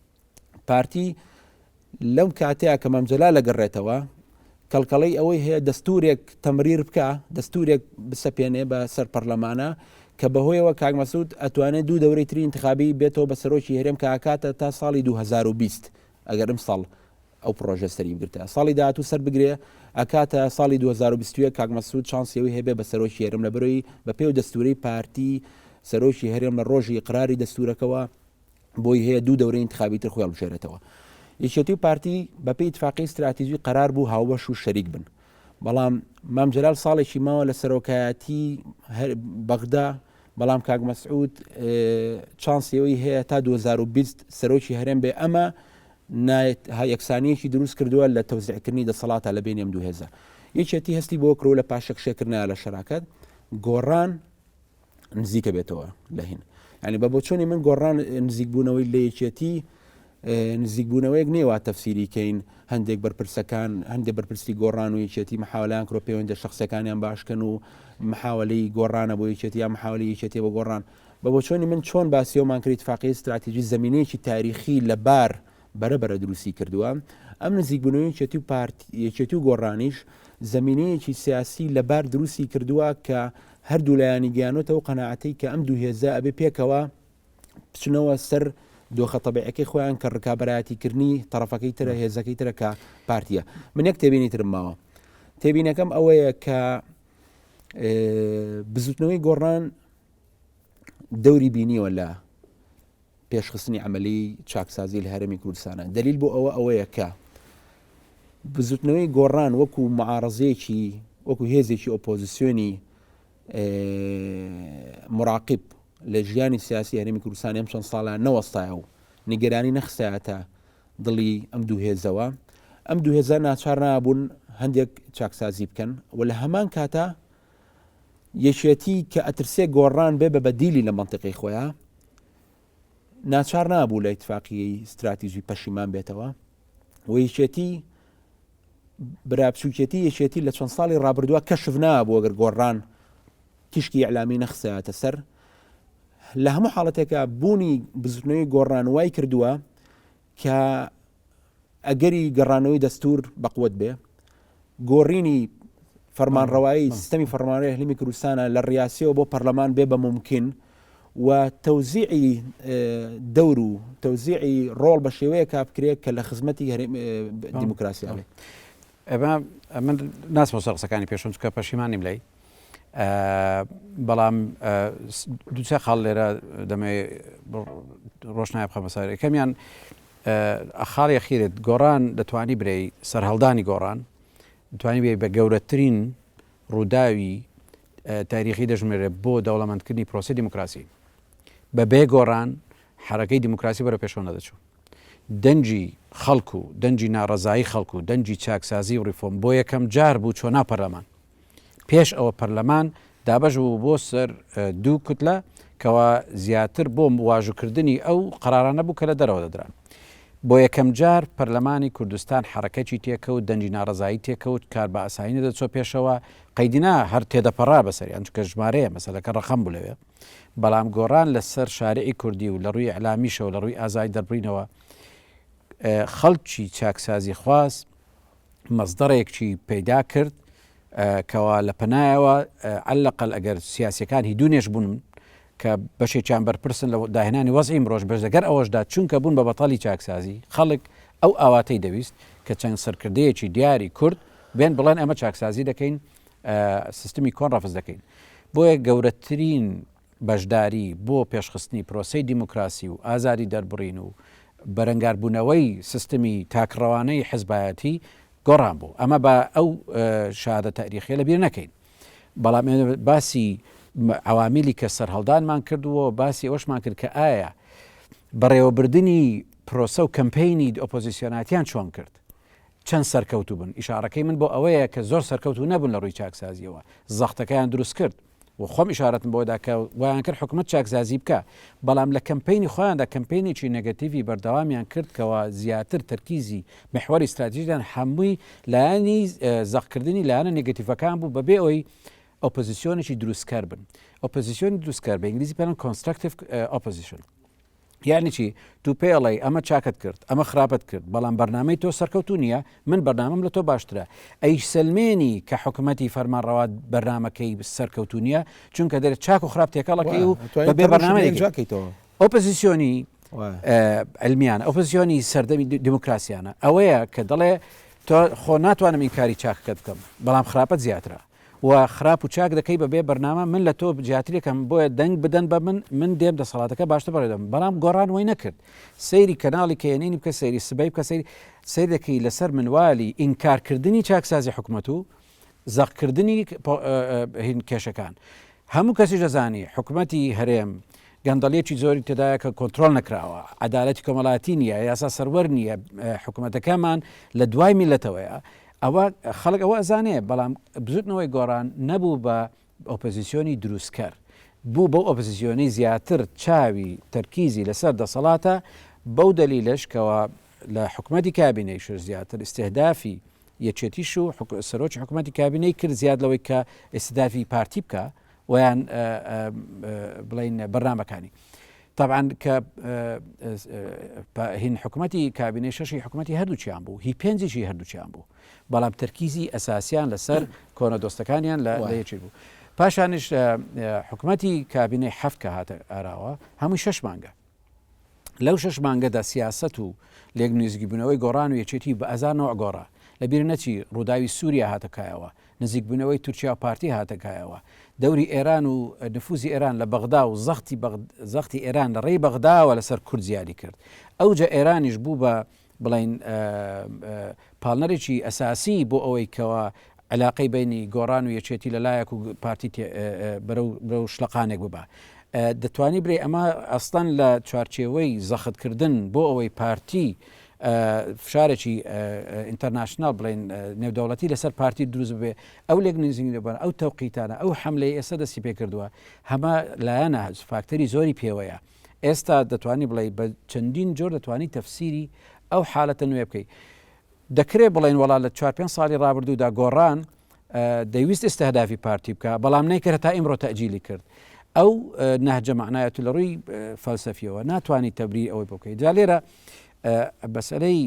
پارتی لەم کاتەیە کە مامجەلا لەگەڕێتەوە کەڵکەڵەی ئەوەی هەیە دەستورێک تەمریر بکە دەستورێک بسەپێنێ بە سەر پەرلەمانە کە بەهۆیەوە کاگمەسود ئەتوانێت دوو دەوری تری انتخابی بێتەوە بە سەرۆکی هەرێم کاکاتە تا ساڵی 2020 ئەگەر ئەم ساڵ ئەو پرۆژە سەری بگرتە ساڵی داهاتوو سەر بگرێ ئەکاتە ساڵی 2020 کاگمەسود چانسیەوەی هەبێ بە سەرۆکی هەرم لە برۆی بە پێو دەستوری پارتی سەرۆکی هەرێم لە ڕۆژی قراری دەستورەکەەوە بۆی هەیە دوو دەورەی انتخابی تر خۆی هەڵبژێرێتەوە یەکێتی و پارتی بەپی اتفاقی استراتیژی قرار بوو هاوبەش و شەریک بن بەڵام مام جلال ساڵێکی ماوە لە سەرۆکایەتی بەغدا بەڵام کاک مەسعود چانسیەوەی هەیە تا 2020 سەرۆکی هەرێم بێ ئەمە یەکسانیەکی دروست کردووە لە تەوزیعکردنی دەسەڵاتە لە بینێم دوهێزە یەکێتی هەستی بۆ کرۆ لە پاشەکشێکردنا لە شەراکەت گۆڕان نزیکە بێتەوە لە هین ینی بە بۆچۆنی من گۆڕان نزیکبوونەوەی لە یەکێتی نزیکبوونەوەیەک نێوا تەفسیری کەین هەندێک بەرپرسەکان هەندێک بەرپرسی گۆڕان و یەکێتی محاولان کرۆ پەیوەندە شخصەکانیان باشکەن و محاولی گۆڕانە بۆ یەکێتی یا محاولی یەکێتی بە گۆڕان بە بۆچۆنی من چۆن باسیەوەمان کرد فاقی استراتیژی زمینەیەکی تاریخی لەبار بەرە بەرە دروستی کردووە، ئەم نزیکبوونەوەی یەکێتی و پارت یەکێتی و گۆڕانیش زەمینەیەکی سیاسی لەبار دروستی کردووە کە هەردوو لایانی گەیانۆتە و قەناعەتی کە ئەم دوو هێزە ئەبێ پێکەوە بچنەوە سەر دۆخە تەبعەکەی خۆیان کە ڕکابەرایەتیکردنی تەرەفەکەی ترە هێزەکەی ترە کە پارتیە من یەک تێبینی ترم ماوە تێبینەکەم ئەوەیە کە بزوتنەوەی گۆڕان دەوری بینیوە لە پێشخستنی عەمەلیی چاکسازی لە هەرێمی کوردستانە. دەلیل بۆ ئەوە ئەوەیە کە بزووتنەوەی گۆڕان وەکوو معارەزەیەکی وەکوو هێزێکی ئۆپۆزیسیۆنی مراقب لە ژیانی سیاسی هەرێمی کوردستان ئەم چەند ساڵە نەوەستایە و نیگەرانی نەخسایەتە دڵی ئەم دوو هێزەوە ئەم دوو هێزە ناچار نابوون هەندێک چاکسازی بکەن و لە هەمان کاتە یەکێتی کە ئەترسێ گۆڕان بێ بە بەدیلی لە منطقی خۆیان ناچار نابوو لە ئیتفاقیی ستراتیژی پەشیمان بێتەوە و یەکێتی برابچووکێتی یەکێتی لە چەند ساڵی ڕابردووە کەشف نابوو ئەگەر گۆڕان تیشکی ئەلامی نەخسایەتە سەر لە هەموو حاڵەتێکە بوونی بزرنەوەی گۆڕان وای کردووە کە ئەگەری گەڕانەوەی دەستور بەقوت بێ گۆڕینی فەرمانڕەوایی سیستمی فەرمانەوەی هەلمی کوردستانە لە ڕاستیەوە بۆ پەرلەمان بێ بە ممکن و تەوزیعی دەور و تەوزیعی ڕۆڵ بە شێوەیە کا بکرێت کە لە خزمەتی دیموکراسیانێ ئەمە ناسمەوە قسەکانی پێشم چکە پەشیمانیم لای بەڵام دوچە خاڵ لێرە دەمێ ڕۆشنای بخەمە سەر یەکەمیان خاڵ یەخیرت گۆڕان دەتوانی برێی سەرهەڵدانی گۆڕان توانی بێ بە گەورەترین ڕووداوی تاریخی دەژمێرە بۆ دەوڵەمەندکردنی پرۆسی دیموکراسی بە بێ گۆڕان حرەکەی دیموکراسی بەرە پێشەوە نەدەچوو دەنجی خەڵکو دەنجی ناڕزایی خەڵکو دەنجی چاکسازی و ڕیفۆم بۆ یەکەم جار بوو چۆنا پەرلەمان پێش ئەوە پەرلەمان دابەش بوو بۆ سەر دوو کوتلە کەوا زیاتر بۆ واژوکردنی ئەو قەرارانە بوو کە لە دەرەوە دەدران بۆ یەکەم جار پەرلەمانی کوردستان حرەکەی تێکەوت دەنگی ناڕزایی تێکەوت کار بە ئاسایینە دەچۆ پێشەوە قەیدینا هەر تێدەپەڕا بەسەر ئەم چکە ژمارەیە مەسەلەکە ڕقم بوو لەوێ بەڵام گۆڕان لەسەر شارعی کوردی و لە ڕووی ئەلامیشەوە لە ڕووی ئازای دەربڕینەوە خەڵکی چاکسازی خواست مەزدەڕێکچی پەیدا کرد کەوا لە پەنایەوە ئەلەقەل ئەگەر سیاسەکان هی دوونێش بوون کە بەشێکیان بەرپرسن لە داهێنانی وەزی مرۆژ بەش دەگەر ئەوەشدا چونکە بوون بە بەتالی چاکسازی خەڵک ئەو ئاواتەی دەویست کە چەند سەرکردەیەکی دیاری کورد بێن بڵێن ئەمە چاکسازی دەکەین سیستمی کۆن ڕەفز دەکەین بۆیە گەورەترین بەشداری بۆ پێشخستنی پرۆسەی دیموکراسی و ئازادی دەربڕین و بەرەنگاربوونەوەی سیستمی تاکڕەوانەی حزبایەتی گۆڕان بوو. ئەمە با ئەو شادە تاریخیە لەبیر نەکەین. بەڵام ئێمە باسی عوامیلی کە سەرهەڵدانمان کردووە باسی ئەوشمان کرد کە ئایا بەڕێوەبردنی پرۆسە و کەمپینی ئۆپۆزیسیۆناتیان چۆن کرد چەند سەرکەوتو بن ئیشارەکەی من بۆ ئەوەیە کە زۆر سەرکەوتو نەبوون لە ڕووی چاکسازیەوە زەختەکەیان دروست کرد و خۆم ئیشارەتم بەوە دا کە وایان کرد حکومەت چاکزازی بکا بەڵام لە کەمپەینی خۆیان دا کەمپەینێکی نەگەتیڤی بەردەوامیان کرد کەوا زیاتر تەرکیزی محوەری ستراتیژیان هەمووی لایەنی زەق کردنی لایەنە نەگەتیڤەکان بوو بە بێ ئەوەی ئۆپۆزیسیۆنێکی دروستکەر بن ئۆپۆزیسیۆنی دروستکەر بە ئینگلیزی پێ Constructive Opposition یانی چی تو پێڵێ ئەمە چاکت کرد ئەمە خراپت کرد بەڵام بەرنامەی تۆ سەرکەوتو نییە من بەرنامەم لە تۆ باشترە ئەی سلمێنی کە حکوومەتتی فەرمانڕەوات بەرنمەکەی سەرکەوتو نییە چونکە دەێت چاک و خراپ تێکەڵەکەی و بێ بەرنامەکەیتەوە ئۆپزیسیۆنی ئەلمیان ئۆپزیۆنی سەردەمی دیموکراسیانە ئەوەیە کە دەڵێ تۆ خۆ ناتوانم این کاری چاکەکە بکەم بەڵام خراپەت زیاترە و خراپ و چاک دەکەی بە بێ بەرنامە من لە تۆ جیاتریکەم بۆیە دەنگ بدەن بە من من دێم دەسەڵاتەکە باشتر بەڕێ دەم بەڵام گۆڕان وەی نەکرد سەیری کەناڵی کەێنینی بکە سەیری سبەی بکە سەیری سەیر دەکەی لەسەر منوالی ئینکارکردنی چاکسازی حکومەت و زەقکردنی هین کێشەکان هەموو کەسی دەزانی حکومەتی هەرێم گەندەڵیەکی زۆری تێدایە کە کۆنتترۆل نەکراوە عدالەتی کۆمەڵاتی نییە یاسا سەروەر نییە حکوومەتەکەمان لە دوای میلەتەوەیە ئەوە خەڵک ئەوە ئەزانێ بەڵام بزوتنەوەی گۆڕان نەبوو بە ئۆپۆزیسیۆنی دروستکەر بوو بەو ئۆپۆزیسیۆنەی زیاتر چاوی تەرکیزی لەسەر دەسەڵاتە بەو دەلیلەش کەوا لە حکومەتی کابینەیش زیاتر ئیستهدافی یەکێتیش و سەرۆکی حکومەتی کابینەی کرد زیاد لەوەی کە ئیستهدافی پارتی بکا وەیان بڵین بەرنامەکانی تابان کە هین حکوومەتتی کابینەی شەشی حکوومەتتی هەردووچیان بوو هی پێنجشی هەردووچیان بوو بەڵام تەرکیزی ئەساسیان لەسەر کۆنە دۆستەکانیان لە لەیەکی بوو پاشانش حکوومەتتی کابینەی هەفت کە هاتە ئاراوە هەمووی شەش مانگە لەو شەش مانگەدا سیاسەت و لێک نزیکبوونەوەی گۆڕان و یەکێتی بە ئەزا نەوع گۆڕا، لەبیر نەچی ڕووداوی سووریا هاتە کایەوە، نزیکبوونەوەی تورکیا و پارتی هاتە کایەوە، دەوری ئێران و نفوزی ئێران لە بەغدا و زەختی ئێران لە ڕێی بەغداوە لەسەر کورد زیادی کرد، ئەوجە ئێرانیش بوو بە بڵێین پاڵنەرێکی ئەساسی بۆ ئەوەی کەوا علاقەی بینی گۆڕان و یەکێتی لە لایەک و پارتی بەرەو شلەقانێک ببە دەتوانی برێ ئەمە ئەستان لە چوارچێوەی زەختکردن بۆ ئەوەی پارتی فشارێکی ئینتەرناشنال بڵین نێودەوڵەتی لەسەر پارتی دروست بێ ئەو لێک نزیین لەبەر ئەو تەوقیتانە ئەو حملەی ئێستا دەستی پێ کردووە هەمە لایەنە فاکتەری زۆری پێوەیە. ئێستا دەتوانی بڵێی بە چەندین جۆر دەتوانی تەفسیری ئەو حالەتە نوێ بکەی دەکرێت بڵێن وڵا لە چوار پێ ساڵی رابردوودا گۆڕان دەویست ئستهدافی پارتی بکە بەڵام نەیکرد تا ئیمڕۆ تەجیلی کرد ئەو نەهجە معنایەت لە ڕووی فەلسەفیەوە ناتوانانی تەبری ئەوەی بکەیت جا لێرە بەسەرەی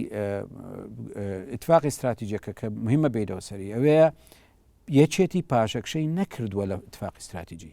اتفاقی استراتیجەکە کە مهمە بیرەوە سەری ئەوەیە یەکێتی پاشەکشەی نەکردووە لە اتفاقی استراتیجی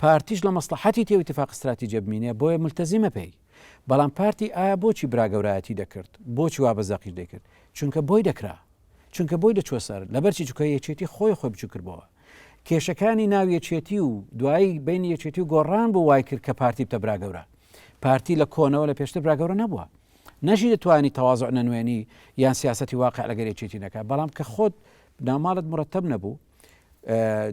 پارتیش لە مەسڵەحەتی تێ و ئیتیفاق ستراتیجە بمینێ بۆیە مولتەزیمە پێی بەڵام پارتی ئایا بۆچی برا گەورایەتی دەکرد بۆچی وا بە زەقیش دەیکرد چونکە بۆی دەکرا چونکە بۆی دەچوە سەر لەبەرچی چکە یەکێتی خۆی خۆی بچوو کردبەوە کێشەکانی ناو یەکێتی و دوایی بین یەکێتی و گۆڕان بۆ وای کرد کە پارتی بتە برا گەورە پارتی لە کۆنەوە لە پێشتر برا گەورە نەبووە نەژی دەتوانی تەواز نەنوێنی یان سیاستی واقع لەگەر یەکێتی نەکە بەڵام کە خۆت ناماڵت مرتب نەبوو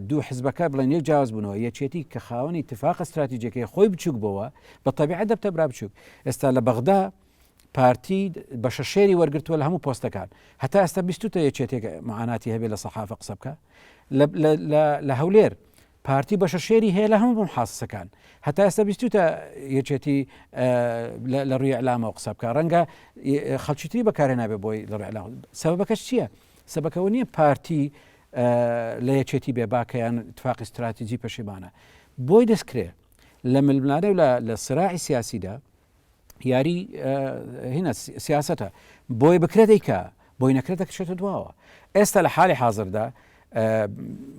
دوو حزبەکە بڵێن یەک جیاواز بوونەوە یەکێتی کە خاوەنی تفاقە استراتیجەکەی خۆی بچوک بووە بە طبیعە دەبتە برا بچوک ئێستا لە بەغدا پارتی بە شەشێری وەرگتووە لە هەموو پۆستەکان هەتا ئێستا بیستە یەکێتێک معاناتی هەبێ لە سەحافە قسە بکە لە هەولێر پارتی بە شەشێری هەیە لە هەموو بم حاسەکان هەتا ئێستا بیستە یەکێتی لە ڕوی ئەلامەوە قسە بکە ڕەنگە خەڵکیتری بەکارێ نابێ بۆی لە ڕێلام سەبەکەش چییە؟ سەبەکەوە نیە پارتی لە یەکێتی بێ باکە یان تفاقی ستراتیجی پەشیمانە بۆی دەستکرێ لە ململانێ و لە سراعی سیاسیدا یاری هینە سیاستە بۆی بکرێ دەیکە بۆی نەکرێ دەکشێتە دواوە ئێستا لە حالی حاضردا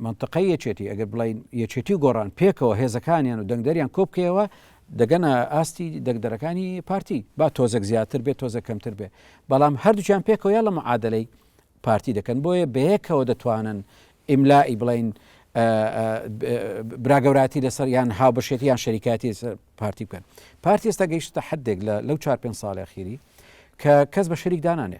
منطقەی یەکێتی ئەگەر بڵین یەکێتی و گۆڕان پێکەوە هێزەکانیان و دەنگدەریان کۆبکەوە دەگەنە ئاستی دەنگدەرەکانی پارتی، با تۆزێک زیاتر بێت تۆزێک کەمتر بێت، بەڵام هەردووکیان پێکەوە یان لە معادەلەی پارتی دەکەن، بۆیە بەیەکەوە دەتوانن ئیملائی بڵێن براگەوراتی لەسەر یان هاوبەشێتی یان شەریکاتی پارتی بکەن پارتی ئێستا گەیشتە حدێک لە لەو چار پێ ساڵی خیری کە کەس بە شەریک دانانێ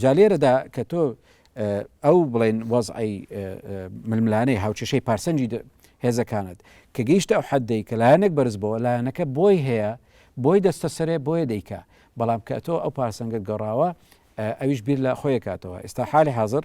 جا لێرەدا کە تۆ ئەو بڵێن وەزعی ململانەی هاوچەشەی پارسەنجی هێزەکانت کە گەیشتە ئەو حدەی کە لایەنێک بەرز بۆ لایەنەکە بۆی هەیە بۆی دەستە سەرێ بۆیە دەیکا بەڵام کە تۆ ئەو پارسەنگت گەڕاوە ئەویش بیر لە خۆیکاتەوە ئێستا حالی حاضر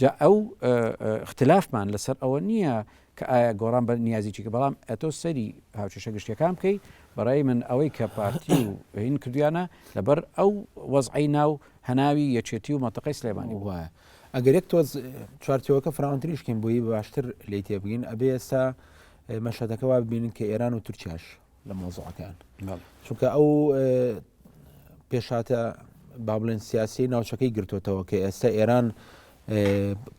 جا ئەو ئختلافمان لەسەر ئەوە نییە کە ئایا گۆڕان بە نیازی چی کە بەڵام ئەتۆ سەیری هاوکێشە گشتیەکان بکەی بەڕای من ئەوەی کە پارتی و هین کردویانە لەبەر ئەو وەزعی ناو هەناوی یەکێتی و مەتەقەی سلێمانی وایە ئەگەر یەک تۆز چوارچەوەکە فراونتریشکین بۆی باشتر لی تێبگین ئەبێ ئێستا مەشهدەکە وا ببینن کە ئێران و تورکیاش لە مۆزەکان چونکە ئەو پێشاتە با بڵێن سیاسی ناوچەکەی گرتوتەوە کە ئێستا ئێران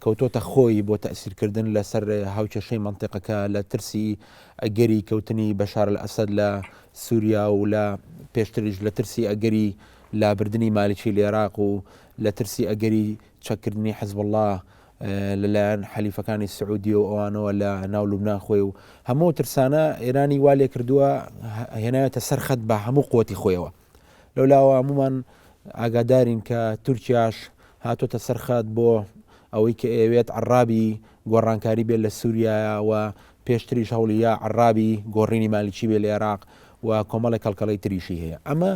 کەوتۆتە خۆی بۆ تەسیرکردن لەسەر هاوکێشەی منطقەکە لە ترسی ئەگەری کەوتنی بەشار لە ئەسد لە سووریا و لە پێشتریش لە ترسی ئەگەری لابردنی مالیکی لێراق و لە ترسی ئەگەری چەکردنی حزب الله لە لایەن حەلیفەکانی سعودیە و ئەوانەوە لە ناو لوبنان خۆی و هەموو ترسانە ئێرانی وا لێ کردووە هێنایەتە سەر خەت بە هەموو قوتی خۆیەوە لەو لاوە هەمومان ئاگادارین کە تورکیاش هاتۆتە سەرخات بۆ ئەوەی کە ئەوێت عرابی گۆڕانکاری بێت لە سووریایە و پێشتریش هەوڵیە عرابی گۆڕینی مالیکی بێ لە عێراق و کۆمەڵی کەڵکەڵی تریشی هەیە ئەمە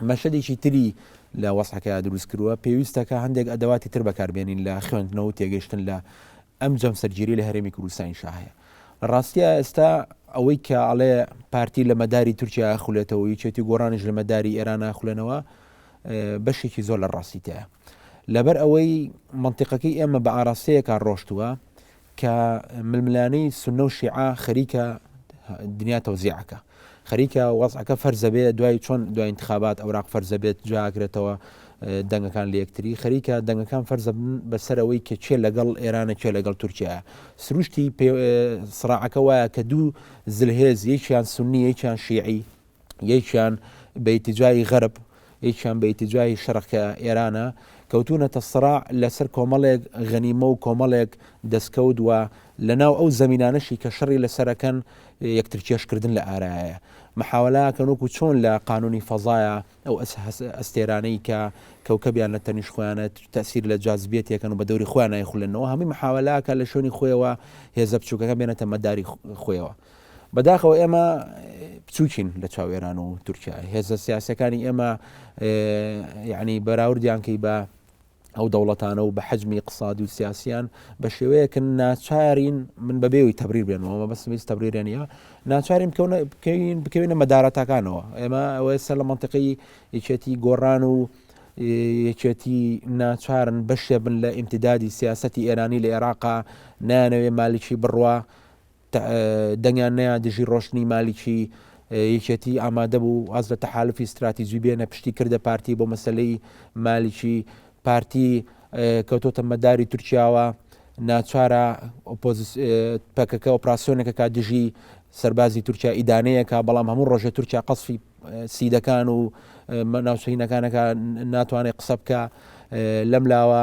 مەشەدێکی تری لە وەسعەکەیا دروست کرووە پێویستە کە هەندێک ئەدەواتی تر بەکاربێنین لە خوێندنەوە و تێگەشتن لە ئەم جەمسەرگیری لە هەرێمی کوردستانی شاهەیە لە ڕاستە ئێستا ئەوەی کە ئەڵێ پارتی لە مەداری تورکیا خولێتەوە یچێتی گۆڕانش لە مەداری ئێران ناخولێنەوە بەشێکی زۆر لە ڕاستیتەیە لەبەر ئەوەی منتیقەکەی ئێمە بە ئاراستەیەکە ڕۆشتووە کە ململانێی سونە و شیعە خەریکە دنیا تەوزیعەکە خەریکە وەزعەکە فەرزەبێ دوای چۆن دوای انتخابات ئەوراق فەرزەبێت جاگرێتەوە دەنگەکان لە یەکتری خەریکە دەنگەکان فەرزەبن بەسەرەوەی کە چێ لەگەڵ ئێرانە چێ لەگەڵ تورکیا سروشتی سراعەکە وایە کە دوو زلهێز یەکیان سنی یەکیان شیعی یەکیان بە ئیتیجای غەرب یەکیان بە ئیتیجای شەرق کە ئێرانە کەوتونەتە سڕاع لەسەر کۆمەڵێک غەنیمە و کۆمەڵێک دەستکەوت وە لە ناو ئەو زمینانەشی کە شەڕی لەسەرەکەن یەکتر کێشکردن لە ئارایە محاولاکەن وەکو چۆن لە قانونی فەزایە ئەو ئەستێرانەی کە کەوکەبیان لە تەنیش خۆیانە تەسیر لە جازبیێت یەکەن و بە دەوری خۆیان نایخولنەوە هەمی محاولاکە لە شوێنی خۆیەوە هێزە بچووکەکە بێنێتە مەداری خۆیەوە بەداخەوە ئێمە بچووکین لە چاو ئێران و تورکیا هێزە سیاسەکانی ئێمە یعنی بەراوردیان کەی بە ئەو دەوڵەتانە و بە حەجمی اقتصادی و سیاسیان بە شێوەیەکن ناچارین من بەبێەوەی تەبریر بێنەوە بەس ویست تەبریرە نیە ناچارین بکەین بکەوینە مەدارەتەکانەوە ئێمە ئەوەی سەر لە منطقی یەکێتی گۆڕان و یەکێتی ناچارن بەشێ بن لە ئیمتدادی سیاستی ئێرانی لە عێراقا نانەوێ مالیکی بڕە دەنگیان نەیان دژی ڕۆشتنی مالیکی یەکێتی ئامادە بوو واز لە تەحالفی ستراتیجی بێنە پشتی کردە پارتی بۆ مەسلەی مالیکی پارتی کەوتۆتە مەداری تورکیاوە ناچارە پەکەکە ئۆپراسسیۆنێکە کا دژی سەربازی تورکیا ئیدانەیەکە بەڵام هەموو ڕۆژە تورکیا قەسفی سیدەکان و ناوچینەکانەکە ناتوانێت قسە بکە لەم لاوە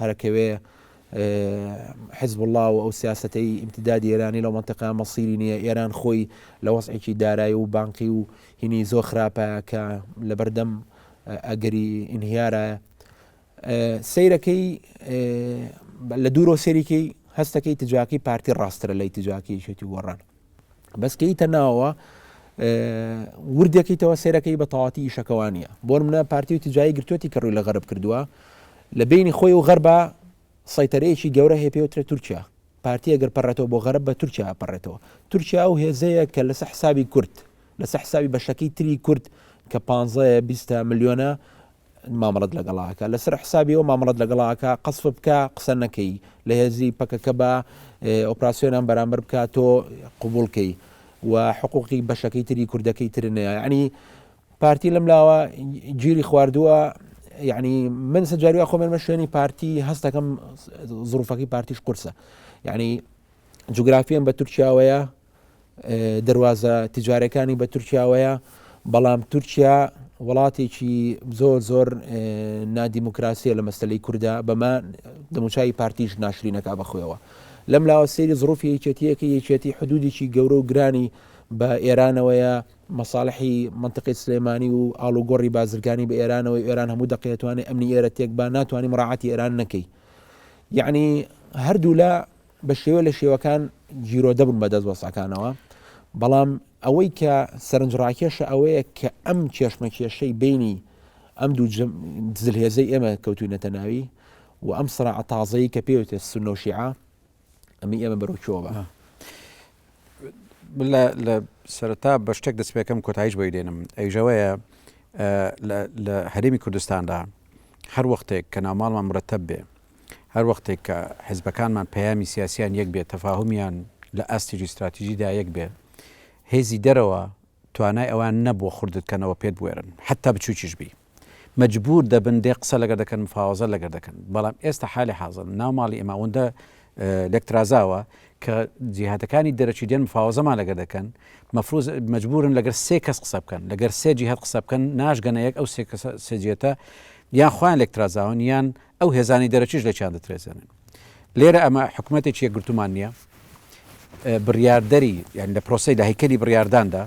هەرەکەوێ حزبوڵڵا و ئەو سیاسەتەی ئیمتدادی ئێرانی لەو مەنتەقە مەسیری نییە ئێران خۆی لە وەزعێکی دارایی و بانقی و هینی زۆر خراپە کە لەبەردەم ئەگەری ئینهیارە سیرەکەی لە دوورۆ سەریکەی هەستەکەی تجاکی پارتی ڕاسترە لەی تجاکیشێتی گۆڕان بەس کە یتە ناوەوە وردەکەیتەوە سێرەکەی بە تەواتی ئیشەکەوانە بۆن منە پارتی و تجایی گرتوەتی کە ڕووی لە غەرب کردووە لە بینی خۆی و غەربە سەیتەرەیەکی گەورە هەیە پێوترە تورکیا پارتیە گەر پەڕێتەوە بۆ غەرب بە تورکیا پەڕێتەوە تورکیا و هێزەیە کە لەسە حسابی کورد لەسە حسابی بەشەکەی تری کورد کە 15 میلیۆنە مامەڵەت لەگەڵا ئەکا لەسەر حسابی ئەو مامەڵەت لەگەڵا ئەکا قەسف بکە قسە نەکەی لە هێزی پەکەکە بە ئۆپراسسیۆنان بەرامبەر بکە تۆ قوبولکەی و حقوقی بەشەکەی تری کوردەکەی ترنەیە ینی پارتی لەم لاوە گیری خواردووە یعنی من سەجاریا خۆمێنمە شوێنی پارتی هەستەکەم زروفەکەی پارتیش قورسە یعنی جوگرافیان بە تورکیاوەیە دەروازە تجارەکانی بە تورکیاوەیە بەڵام تورکیا وڵاتێکی زۆر زۆر نادیموکراسیە لە مەسلەی کووردا بەمە دەموچای پارتیش ناشرینەکە بەخۆەوە لەم لاوە سێری زڕوفی یەکێتیەکە یەکێتی حدودێکی گەورە و گرانی بە ئێرانەوەیە مەساالحی منطقی سلێمانی و ئالوگۆڕی بازرگانی بە ئێرانەوە ئێران هەموو دەقێتوانێت ئەمنی ئێرە تێک با ناتوانانی مراعاتی ئێران نەکەی یعنی هەردوولا بە شێوە لە شێوەکان گیرۆ دەبن بە دەست وەسەکانەوە بەڵام ئەوەی کە سەرنج ڕاکێشە ئەوەیە کە ئەم کێشمە کێشەی بینی ئەم دوو دزل هێزەی ئێمە کەوتوینەتە ناوی و ئەم سرا تازەی کە پێوتێ سنۆشیعە ئەمی ئێمە بەرەوچۆ بە لە سەرتا بە شتێک دەستپێکم کۆتایش بۆی دێنم ئەیژەوەیە لە هەرێمی کوردستاندا هەر وەختێک کە ناوماڵمان مرتب بێ هەر وەختێک کە حزبەکانمان پەیامی سیاسییان یەک بێ، تەفاهومیان لە ئاستی جیوستراتیژیدا یەک بێ، هێزی دەرەوە توانای ئەوەیان نەبووە خردتکەنەوە پێت بوێرن، حەتتا بچووکیش بی، مەجبوور دەبن دێ قسە لەگەر دەکەن، مفاوەزە لەگەر دەکەن. بەڵام ئێستا حالی حازر ناو ماڵی ئێمە ئەوەندە لێک ترازاوە کە جیهاتەکانی دەرەکی دێن مفاوەزەمان لەگەر دەکەن، مەفروز مەجبوورن لەگەر سێ کەس قسە بکەن، لەگەر سێ جیهات قسە بکەن، ناشگەنە یەک ئەو سێ کەسە، سێ جیهتە یان خۆیان لێک ترازاون یان، ئەو هێزانەی دەرەکیش لێکیان دەترێزێنن. لێرە ئەمە حکومەتێکی یەکگرتوومان نییە، بڕیاردەری یان لە پرۆسەی لە هەیکەلی بڕیارداندا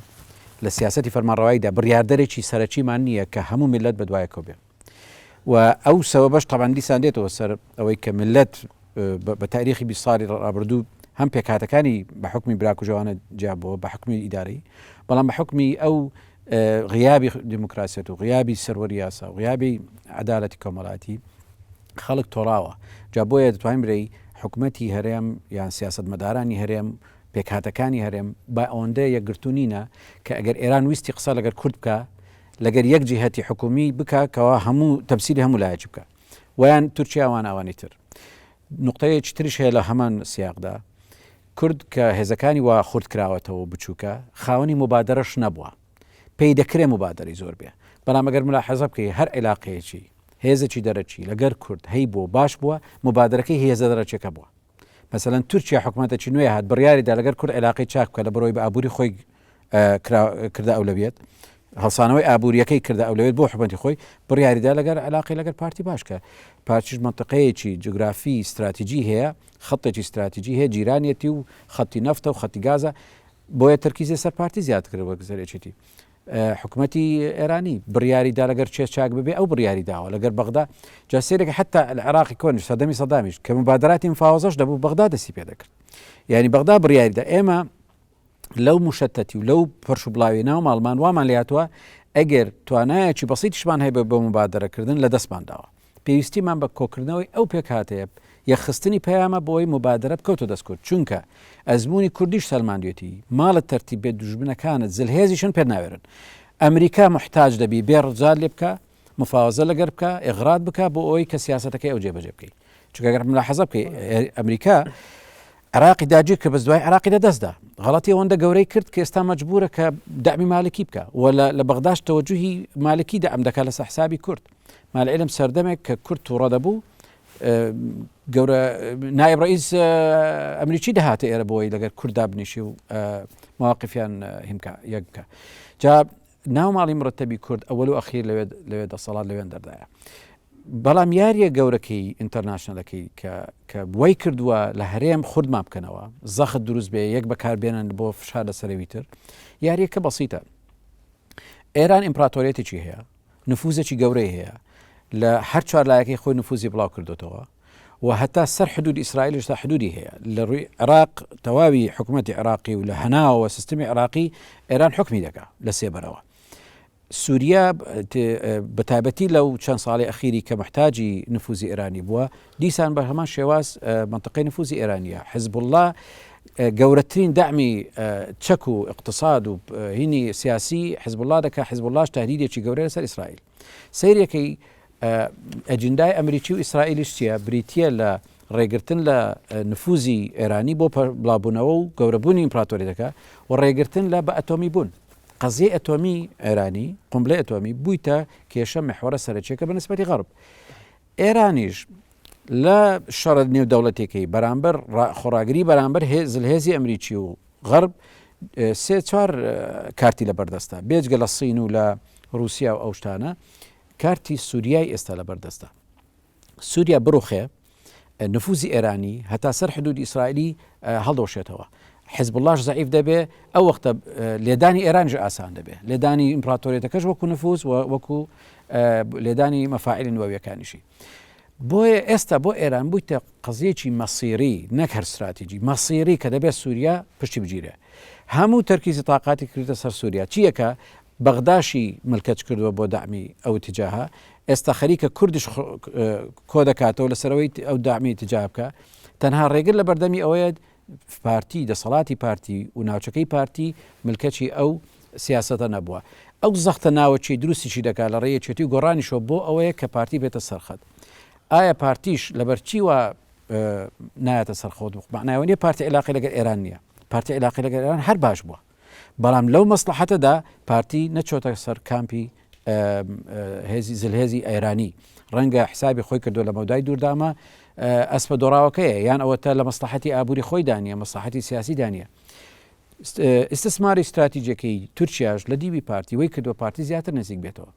لە سیاسەتی فەرمانڕەواییدا بڕیاردەرێکی سەرەکیمان نییە کە هەموو میللەت بەدوایەکەوە بێ و ئەو سەبەبەش تەبان دیسان دێتەوە سەر ئەوەی کە میللەت بە تاریخی بی ساڵی ڕابردوو هەم پێکهاتەکانی بە حکمی براکوژەوانە جیابەوە بە حکمی ئیدارەی بەڵام بە حکمی ئەو غیابی دیموکراسیەت و غیابی سەروەری یاسا و غیابی عەدالەتی کۆمەڵاتی خەڵک تۆراوە جا بۆیە دەتوانین برێی حکومەتی هەرێم یان سیاست مەدارانی هەرێم پێکهاتەکانی هەرێم با ئەوەندە یەکگرتوونینە کە ئەگەر ئێران ویستی قسە لەگەر کورد بکە لەگەر یەک جیهەتی حکومی بکە کەوا هەموو تەمسیلی هەموو لایەک بکە ویان تورکیاوان ئەوانی تر نقطەیەکی ترش هەیە لە هەمان سیاقدا کورد کە هێزەکانی وا خورد کراوەتەوە و بچووکە، خاوەنی موبادەرەش نەبووە. پێی دەکرێ موبادەرەی زۆر بێ. بەڵام ئەگەر مولاحەزە بکەی هەر عیلاقەیەکی، هێزێکی دەرەکی لەگەر کورد هەیبووە و باش بووە، موبادەرەکەی هی هێزە دەرەکیەکە بووە. مەسەلەن تورکیا حکومەتەکی نوێ هات بڕیاری دا لەگەر کورد عیلاقەی چاک بکا لە بەرۆی بە ئابووری خۆی کرا کردە ئەولەویەت. هەڵسانەوەی ئابووریەکەی کردە ئەولەویەت بۆ حکومەتی خۆی، بڕیاری دا لەگەر عیلاقەی لەگەر پارتی باش کا. پارتیش مەنتقەیەکی جوگرافی ستراتیجی هەیە. خەتێکی ستراتیجی هەیە جیرانیەتی و خەتی نەفتە و خەتی گازە بۆیە تەرکیزی سەر پارتی زیادکرد وەک زەرێکێتی حکوومەتی ئێرانی بڕیاری دا لەگەر چێ چاک ببێ ئەو بڕیاری داوە لەگەر بەغدا جا سێرێک حتا لە عێراقی کۆنی سەدەمی سەدامیش کە مبادراتی مفاوەزەش دەبوو بەغدا دەسی پێ دەکرد یعنی بەغدا بڕیاریدا ئێمە لەو موشەتەتی و لەو پەرش و بڵاوی ناو ماڵمان وامان لاتوە ئەگەر توانایەکی بەسیتیشمان هەیە بە مبادرەکردن لە دەستمان داوە پێویستیمان بە کۆکردنەوەی ئەو پێکهاتەیە یەخستنی پەیامە بۆی مبادرە بکەوتە دەستکرد چونکە ئەزمموی کوردیش سەلماندوێتی ماڵت تەرتیب بێت دوژمنەکانت زلهێزیشن پێ ناوێرن ئەمریکا محتاج دەبی بێ ڕزار لێ بکە مفاوەزە لەگەر بکە ئغرات بکە بۆ ئەوەی کە سیاستەکەی ئەو جێبەجێ بکەی چگەگەر ملاحەزە بکەی ئەمریکا عراقی داگیر کە بەس دوای عراقی لە دەستدا غڵەتی ئەوەندە گەورەی کرد کە ئێستا مەجبورە کە دامی مالکی بکە و لە بەغداش تەوەجوهی مالکی دام دەکات لە سەحسابی کورد مالعلم سەردەمێک کە کورد تووڕە دەبوو گەورە نایب ڕئیس ئەمریکی دەهاتە ئێرە بۆی لەگەر کوردا بنیشی و مواقفیان هیمکە یەککە جا ناو ماڵی مرتبی کورد ئەوەل و ئەخیر لەوێ لەوێ دەسەڵات لەوێن دەردایە بەڵام یاریە گەورەکەی ئینتەرناشنلەکەی کە کە وای کردووە لە هەرێم خوردمان بکەنەوە زەخت دروست بێ یەک بەکاربێنن بۆ فشار لە سەرەوی تر یاریەکە بەسیتە ئێران ئیمپراتۆریەتێکی هەیە نفوزێکی گەورەی هەیە لە هەر چوار لایەکەی خۆی نفوزی بڵاو کردوتەوە و هەتا سەر حدوودی ئیسرائیلش تا حدوودی هەیە لە ڕووی عێراق تەواوی حکومەتی عێراقی و لە هەناوەوە سیستمی عێراقی ئێران حوکمی دەکا لە سێبەرەوە سووریا بە تایبەتی لەو چەند ساڵی ئەخیری کە محتاجی نفوزی ئێرانی بووە دیسان بە هەمان شێواز منطقەی نفوزی ئێرانیە حزب الله گەورەترین دامی چەک و اقتصاد و هینی سیاسی حزب الله دەکە حزب اللهش تهدیدێکی گەورە لەسەر ئیسرائیل سەیرێکەی ئەجندای ئەمریکی و ئیسرائیلیش چیە بریتە لە ڕێگرتن لە نفوزی ئێرانی بۆ بڵابوونەوە و گەورەبوونی ئیمپراتۆری دەکە و ڕێگرتن لە بە ئەتۆمی بوون قەزیی ئەتۆمی ئێرانی قمبلە ئەتۆمی بوویتە کێشە مححوەرە سەرچێکە بە نسبەتی غەرب ئێرانیش لە شەڕە نێودەوڵەتیەکەی بەرامبەر خۆڕاگری بەرامبەر زلهێزی ئەمریکی و غەرب سێ چوار کارتی لە بەردەستە بێجگە لە سین و لە رووسیا و ئەوشتانە کارتی سووریای ئێستا لە بەردەستە سووریا بڕوخێ نفوزی ئێرانی هەتا سەر حدود ئیسرائیلی هەڵدۆشێتەوە حزب اللهش زعیف دەبێ ئەو وەختە لێدانی ئێرانژ ئاسان دەبێ لێدانی ئیمپراتۆریەتەکەش وەکو نفوز وەکو لێدانی مەفاعلی نوێویەکانیشی بۆیە ئێستا بۆ ئێران بوویتە قەزیەکی مەسیری نەک هەر ستراتیجی مەسیری کە دەبێت سووریا پشتی بگیرێ هەموو تەرکیزی تااقاتی کردە سەر سووریا چیەکە بەغداشی ملکەچ کردووە بۆ دامی ئەو تجاها ئێستا خەریکە کوردش کۆ دەکاتەوە لەسەرەوەی ئەو دامی تجا بکە تەنها ڕێگر لە بەردەمی ئەوەیە پارتی دەسەڵاتی پارتی و ناوچەکەی پارتی ملکەچی ئەو سیاسەتە نەبووە ئەو زەختە ناوەچی دروستیشی دەکات لە ڕێ یەکێتی و گۆڕانیشەوە بۆ ئەوەیە کە پارتی بێتە سەرخەت ئایا پارتیش لەبەرچی وە نایەتە سەرخۆت معناوە نیە پارتی علاقی لەگەر ئێران نییە پارتی علاقی لەگەر ئێران هەر باش بووە بەڵام لەو مەسلەحەتەدا پارتی نەچۆتە سەر کامپی هێزی زلهێزی ئەیرانی ڕەنگە حسابی خۆی کردو لە مەودای دووردامە ئەسپە دۆڕاوەکەیە یان ئەوەتە لە مەسلحەتی ئابووری خۆی دانیە مەسلحەتی سیاسی دانیە ئستسماری استراتیجەکەی تورکیاش لە دیوی پارتی وی کردوە پارتی زیاتر نزیک بێتەوە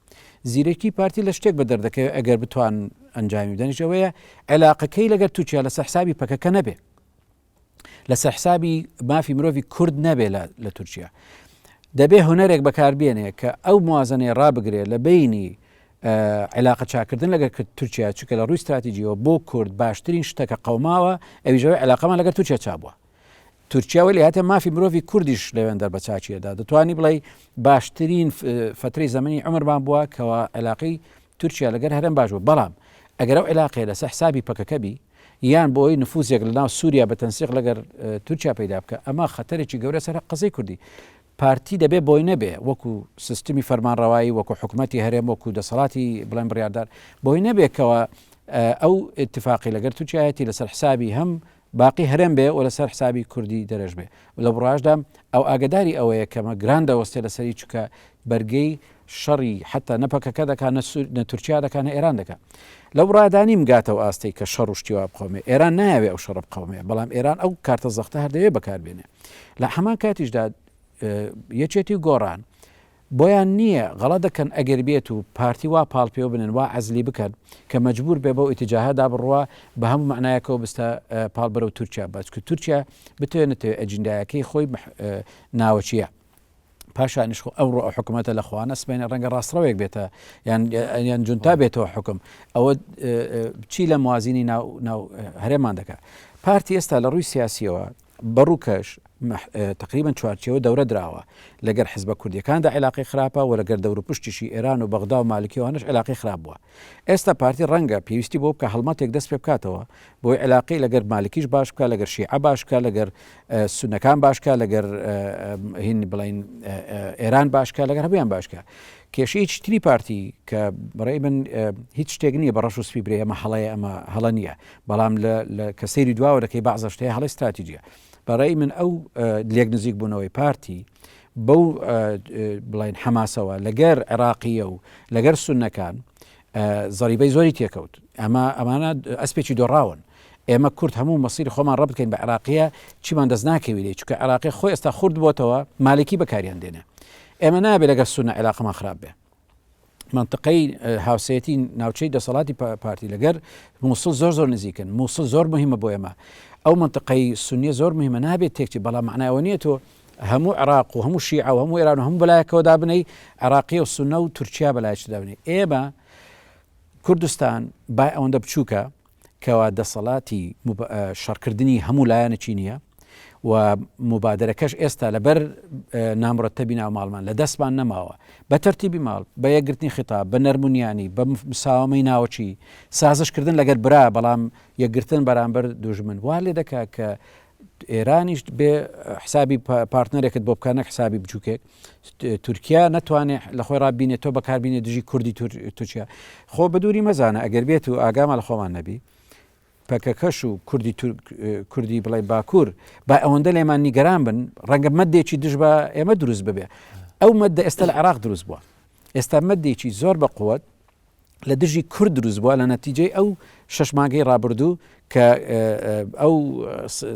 زیرەکی پارتی لە شتێک بە دەردەکەی ئەگەر بتوان ئەنجامی بدەنیشەوەیە عێلاقەکەی لەگەر تورکیا لە سەحسابی پەکەکە نەبێ لەسەر حسابی مافی مرۆڤی کورد نەبێ لە تورکیا دەبێ هونەرێک بەکاربیێنێ کە ئەو موازنەیە ڕابگرێ لە بینی علاقە چاکردن لەگەر تورکیا چکە لە ڕووی استراتیجیەوە بۆ کورد باشترین شتەکە قەوماوە ئەویژەوەی علاقەمان لەگەر تورکیا چابووە تورکیا وەلی هاتە مافی مرۆڤی کوردیش لەوێن دەر بەچچیەدا دەتوانی بڵێ باشترین فتری زمانی ئەمرمان بووە کەەوە علاقی تورکیا لەگەر هەرم باش بوو بەڵام ئەگەرەو علاقێ لەسە حسابی پەکەکەبی یان بۆ ئەوەی نفوزێک لە ناو سوریا بە تەنسیق لەگەر تورکیا پەیدا بکا ئەمە خەتەرێکی گەورە سەر قەزەی کوردی پارتی دەبێ بۆی نەبێ وەکو سیستمی فەرمانڕەوایی وەکو حکومەتی هەرێم وەکو دەسەڵاتی بڵێن بڕیاردار بۆی نەبێکەوە ئەو اتفاقی لەگەر تورکیایەتی لەسەر حسابی هەم باقی هەرێم بێ و لەسەر حسابی کوردی دەرەش بێ لە بڕاشدا ئەو ئاگەداری ئەوەیە کە مە گران دەوەستێ لە سەری چوکە بەرگەی شەڕی حەتا نە پەکەکە دەکا نە سور نە تورکیا دەکا نە ئێران دەکا لە بڕادانیم گاتە و ئاستەی کە شەڕ و شتیوا بقەومێ ئێران نایەوێ ئەو شەڕە بقەومێ بەڵام ئێران ئەو کارتە زەختە هەردەوێ بەکاربێنێ لە هەمان کاتیشدا یەکێتی و گۆڕان بۆیان نییە غەڵەت دەکەن ئەگەر بێت و پارتی وا پاڵ پێوە بنێن وا عەزلی بکەن کە مەجبور بێ بەو ئیتجاهە دا بڕوا بە هەموو مەعنایەکەوە بستە پاڵ بەرەو تورکیا با چکە تورکیا بتەوێ نەتەوێ ئەجیندایەکەی خۆی ناوەکییە پاشانیش خۆ ئەوڕۆ ئەو حکومەتە لە خوا نەسمێنێ ڕەنگە ڕاستڕەوێک بێتە یان یان جونتا بێتەوە حکم ئەوە چی لە موازینی ناو ناو هەرێمان دەکات پارتی ئێستا لە ڕووی سیاسیەوە بەڕووکەش تەقریبەن چوارچێوە دەورە دراوە، لەگەر حزبە کوردیەکاندا عیلاقەی خراپە و لەگەر دەوروپشتیشی ئێران و بەغدا و مالکی و ئەوانەش عیلاقەی خراپ بووە. ئێستا پارتی ڕەنگە پێویستی بەوە بکا هەڵمەتێک دەست پێبکاتەوە بۆی عیلاقەی لەگەر مالکیش باش بکا، لەگەر شیعە باش بکا، لەگەر سونەکان باش بکا، لەگەر هین بڵێین ئێران باش بکا، لەگەر هەموویان باش بکا. کێشەی چتری پارتی کە بەڕێی من هیچ شتێک نییە بە ڕەش و سپی برێ ئەمە هەڵەیە ئەمە هەڵە نییە، بەڵام لە لە کە سەیری دواوە دەکەی بەعزەش هەیە هەڵەی ستراتیجیە بە ڕێی من ئەو لێک نزیک بوونەوەی پارتی بەو بڵین حەماسەوە لەگەر عێراقیە و لەگەر سونەکان زەریبەی زۆری تێکەوت ئەمە ئەمانە ئەسپێکی دۆڕاون ئێمە کورد هەموو مەسیری خۆمان ڕەت بکەین بە عراقیە چیمان دەست ناکەوی لێ چکە عراقی خۆی ئێستا خورد بۆتەوە مالکی بەکاریان دێنێ ئێمە نابێت لەگە سونە عێراقمان خراپ بێ مەنتقەی هاوسەتی ناوچەی دەسەڵاتی پارتی لەگەر مووسڵ زۆر زۆر نزیکن مووسڵ زۆر مهمە بۆ ئێمە ئەو مەنتقەی سنیە زۆر مهمە نابێت تێکچی بەڵام معناەوە نیە تۆ هەموو عراق و هەموو شیع و هەموو ئێران و هەموو بەلایەکەوە دابنەی عراقی و سنە و تورکیا بەلایش دابنێ ئێمە کوردستان با ئەوەندە بچووکە کەوا دەسەڵاتی شەڕکردنی هەموو لایەنەکی نییە و موبادرەکەش ئێستا لەبەر نامرەتەبی ناو ماڵمان لە دەستمان نەماوە بە تەرتیبی ماڵ بە یەکگرتنی خطاب بە نەرمونیانی بە مساوامەی ناوچی سازشکردن لەگەر برا بەڵام یەکگرتن بەرامبەر دوژمن وا لێ دەکا کە ئێرانیش بێ حسابی پارتنەرێکت بۆ بکە نەک حسابی بچووکێک تورکیا نتوانێ لە خۆی ڕابینێت تۆ بەکاربینێ دژی کوردی تورکیا خۆ بدووری مەزانە ئەگەر بێت و ئاگامان لە خۆمان نەبی پەکەکەش و کوردی کوردی بڵێ باکوور با ئەوەندە لێمان نیگەران بن ڕەنگە مەدێکی دژ بە ئێمە دروست ببێ ئەو مەدە ئێستا لە عراق دروست بووە ئێستا مەدێکی زۆر بە قوت لە دژی کورد دروست بوە لە نەتیجەی ئەو شەش مانگەی ڕابردوو کە ئەو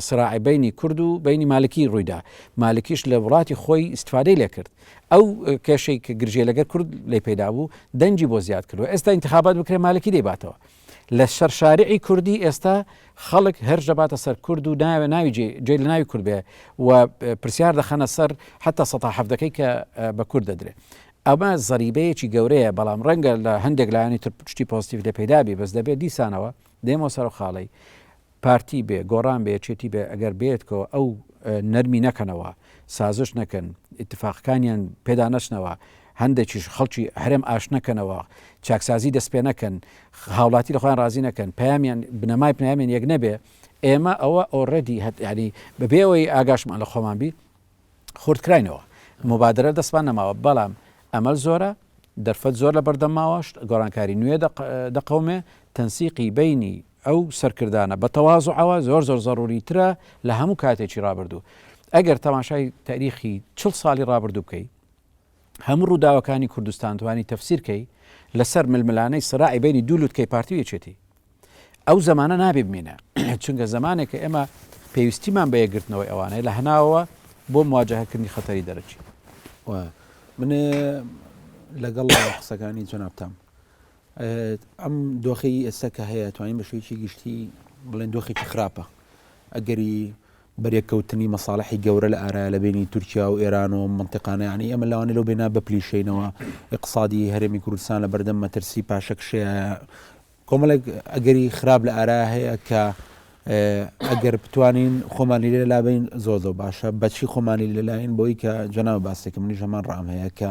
سراعی بینی کورد و بینی مالکی ڕوویدا مالکیش لە وڵاتی خۆی استفادەی لەکرد ئەو کێشەی کە گرژێ لەگەر کورد لی پیدا بوو دەنجی بۆ زیاد کردو ئێستا انتخابات بکرێ مالکی دەیباتەوە لە سەر شارعی کوردی ئێستا خەڵک هەر دەباتە سەر کورد و ناوێ ناوی جێ لە ناوی کورد بێ و پرسیار دەخەنە سەر حتا سەهەفتەکەی کە بە کورد دەدرێت ئەمە زەریبەیەکی گەورەیە بەڵام ڕەنگە لە هەندێک لایەنی تر شتی پۆزتیڤ لێ پەیدا بی بەس دەبێ دیسانەوە دێمەوە سەرو خاڵەی پارتی بێ گۆڕان بێ یەکێتی بێ ئەگەر بێتکەوە ئەو نەرمی نەکەنەوە سازش نەکەن ئیتفاقەکانیان پێدا نەچنەوە هەندێکیش خەڵکی هەرێم ئاش نەکەنەوە چاکسازی دەست پێ نەکەن هاوڵاتی لە خۆیان ڕازی نەکەن پامیان بنەمای پنامیان یەک نەبێ ئێمە ئەوە ئۆڕێدی هەتیانی بەبێەوەی ئاگاشمان لە خۆمان بی خورتکراینەوە موبادرە دەستمان نەماوە بەڵام ئەمەل زۆرە دەرفەت زۆر لە بەردەم ماوە شت گۆڕانکاری نوێ دەقەومێ تەنسیقی بینی ئەو سەرکردانە بە تەوازعەوە زۆر زۆر زەڕوری ترە لە هەموو کاتێکی ڕابردوو ئەگەر تەماشای تاریخی چل ساڵی ڕابردوو بکەی هەموو ڕووداوەکانی کوردستان توانی تەفسیرکەی لەسەر ململانەی سراعی بینی دوولوتکەی پارتی و یەکێتی ئەو زەمانە نابێ بمینە چونگە زەمانێکە ئێمە پێویستیمان بە یەکگرتنەوەی ئەوانەیە لە هەناوەوە بۆ مواجهکردنی خەتەری دەرەکی من لەگەڵ قسەکانی جەنابتام ئەم دۆخی ئێستا کە هەیە توانین بە شوێکی گشتی بڵێن دۆخێکی خراپە ئەگەری بەرێکەوتنی مەساڵحی گەورە لە ئارایە لە بەینی تورکیا و ئێران و منتیقانە یانی ئێمە لەوانی لەو بێنا بپلیشینەوە ئقسادی هەرێمی کوردستان لە بەردەم مەترسی پاشەکشەیە کۆمەڵێک ئەگەری خراپ لە ئارا هەیە کە ئەگەر بتوانین خۆمانی لێ لابین زۆر زۆر باشە بەچی خۆمانی لەلاین بۆی کە جەناو باسێکم منی ژەمان ڕام هەیە کە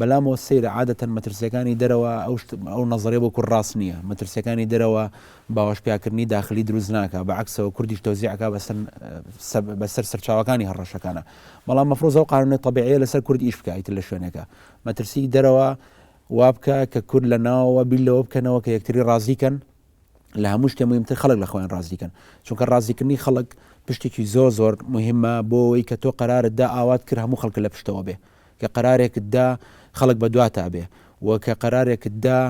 بەلامەوە سەیرە عادەتەن مەترسیەکانی دەرەوە ئەو شت ئەو نەزەرە بۆ کورد راست نیە مەترسیەکانی دەرەوە باوەش پیاکردنی داخلی دروست ناکا بە عەکسەوە کوردیش تەوزیع ئەکا بەسەر سەب بەسەر سەرچاوەکانی هەڕەشەکانا بەڵام مەفروزە ئەو قانونە تەبیعیە لەسەر کورد ئیش بکا ئیتر لە شوێنێکا مەترسی دەرەوە وابکە کە کورد لە ناوەوە بیر لەوە بکەنەوە کە یەکتری رازی کەن لە هەموو شتێ مهمتر خەڵک لە خۆیان رازیکەن چونکە رازیکردنی خەڵک پشتێکی زۆر زۆر مهمە بۆ ئەوەی کە تۆ قەرارت دا ئاوات کرد هەموو خەڵکە لە پشتەوە بێ کە قەرارێکت دا خەڵک بە دواتا بێ و کە قەرارێکت دا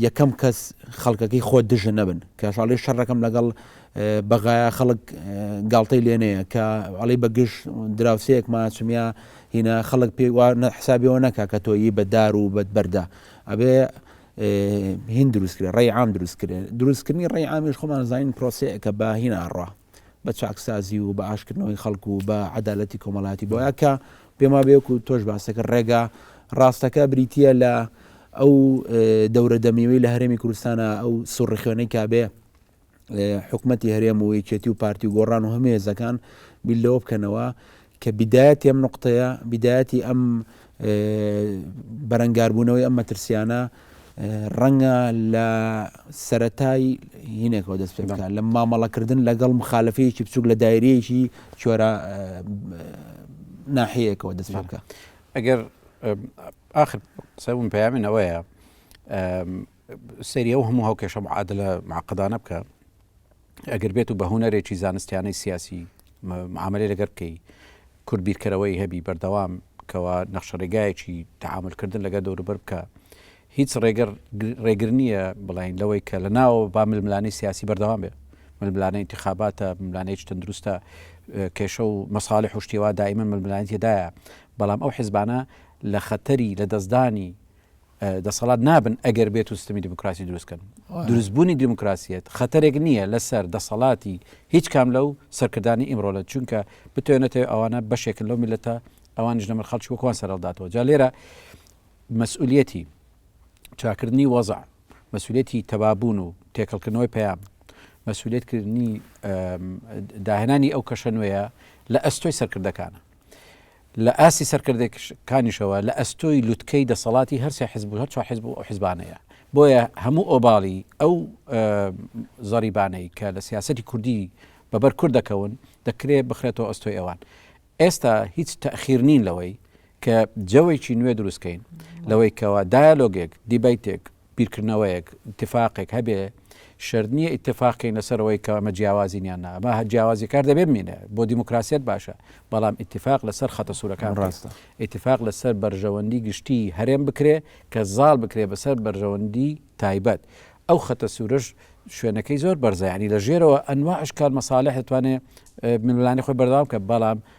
یەکەم کەس خەڵکەکەی خۆت دژە نەبن کە شڵی شەڕەکەم لەگەڵ بەغایە خەڵک گاڵتەی لێنەیە کە ئەڵی بەگشت دراوسەیەک ماچمیا هینا خەڵک پێ حسابەوە نەکە کە تۆیی بەدار و بەدبەردا ئەبێ هین دروست کرێ ڕێ عام دروست کرێ دروستکردنی ڕێ ئامیش خۆمان زانین پرۆسەیە کە باهیناڕە بە چاکسازی و بە ئاشکردنەوەی خەڵک و بە عدالەتی کۆمەڵاتی بۆە کە پێما بێکو تۆش باسەکە ڕێگا ڕاستەکە بریتە لە ئەو دەورە دەمیوی لە هەرێمی کوردستانە ئەو سوڕخێنەی کابێ حکومەتی هەرێم و یەکێتی و پارتی و گۆڕان و هەمێزەکان بیلەوە بکەنەوە کە بیدایەتی ئەم نوقتەیە، بیدایەتی ئەم بەرەنگاربوونەوەی ئەم مەترسییانە ڕەنگە لە سەرەتای هینێکەوە دەست پێ بکات لە مامەڵەکردن لەگەڵ مخالفەیەکی بچووک لە دایرەیەکی چۆرە ناحەیەکەوە دەست پێ بکە ئەگەر آخر قسە بوون پەیامنەوەیە سەیری ئەو هەموو هاوکێشە معادلە معقدانە بکە ئەگەر بێت و بە هونەرێکی زانستیانەی سیاسی معاملەی لەگەر بکەی کورد بیرکەرەوەی هەبی بەردەوام کەوا نەخشەڕێگایەکی تعاملکردن لەگە دەوروبەر بکە هیچ ڕێگەر ڕێگر نییە بڵین لەوەی کە لە ناوە با ململانی سیاسی بەردەوام بێ ململانە انتخاباتە ملانەیەکی تەندروستە کێشە و مەساڵی حشتیەوە دایمە ململانیتیدایە بەڵام ئەو حزبانە لە خەتەری لە دەستدانی دەسەڵات نابن ئەگەر بێت و سیستمی دیموکراسی دروست کەن. دروست بوونی دیموکراسیەت خەتەرێک نییە لەسەر دەسەڵاتی هیچ کام لەو سەرکردانی ئیمڕۆلە چونکە بتوێنێتەوە ئەوانە بەشێکن لەو میلەتە ئەوانیش نەمر خەڵکی وەکوان سەرەڵداتەوە جا لێرە مەسئولەتی چاکردنی وەزع مەسولێتی تەبابوون و تێکەڵکردنەوەی پەیام مەسولێتکردنی داهێنانی ئەو کەشە نوێیە لە ئەستۆی سەرکردەکانە لە ئاستی سەرکردەکانیشەوە لە ئەستۆی لوتکەی دەسەڵاتی هەر سێ حزب و هەر چوار حزب و ئەو حزبانەیە بۆیە هەموو ئۆباڵی ئەو زەریبانەی کە لە سیاسەتی کوردی بەبەر کورد دەکەون دەکرێت بخرێتەوە ئەستۆی ئەوان ئێستا هیچ تەخیر نین لەوەی کە جەوێکی نوێ دروستکەین لەوەی کەەوە دایلۆگێک دیبیتێک بیرکردنەوەیەک، ئیتیفاقێک، هەبێ، شەرت نییە ئیتیفاق کەین لەسەر ئەوەی کە ئەمە جیاوازین یان نا، ئەمە جیاوازی کار دەبێ بمینێ، بۆ دیموکراسییەت باشە، بەڵام ئیتیفاق لەسەر خەتە سوورەکان بکرێ، ئیتیفاق لەسەر بەرژەوەندیی گشتیی هەرێم بکرێ کە زاڵ بکرێ بەسەر بەرژەوەندیی تایبەت، ئەو خەتە سوورەش شوێنەکەی زۆر بەرزە، یانی لە ژێرەوە ئەنواع ئەشکال مەساڵیح دەتوانێ ململانێی خۆی بەردەوام بکات، بەڵام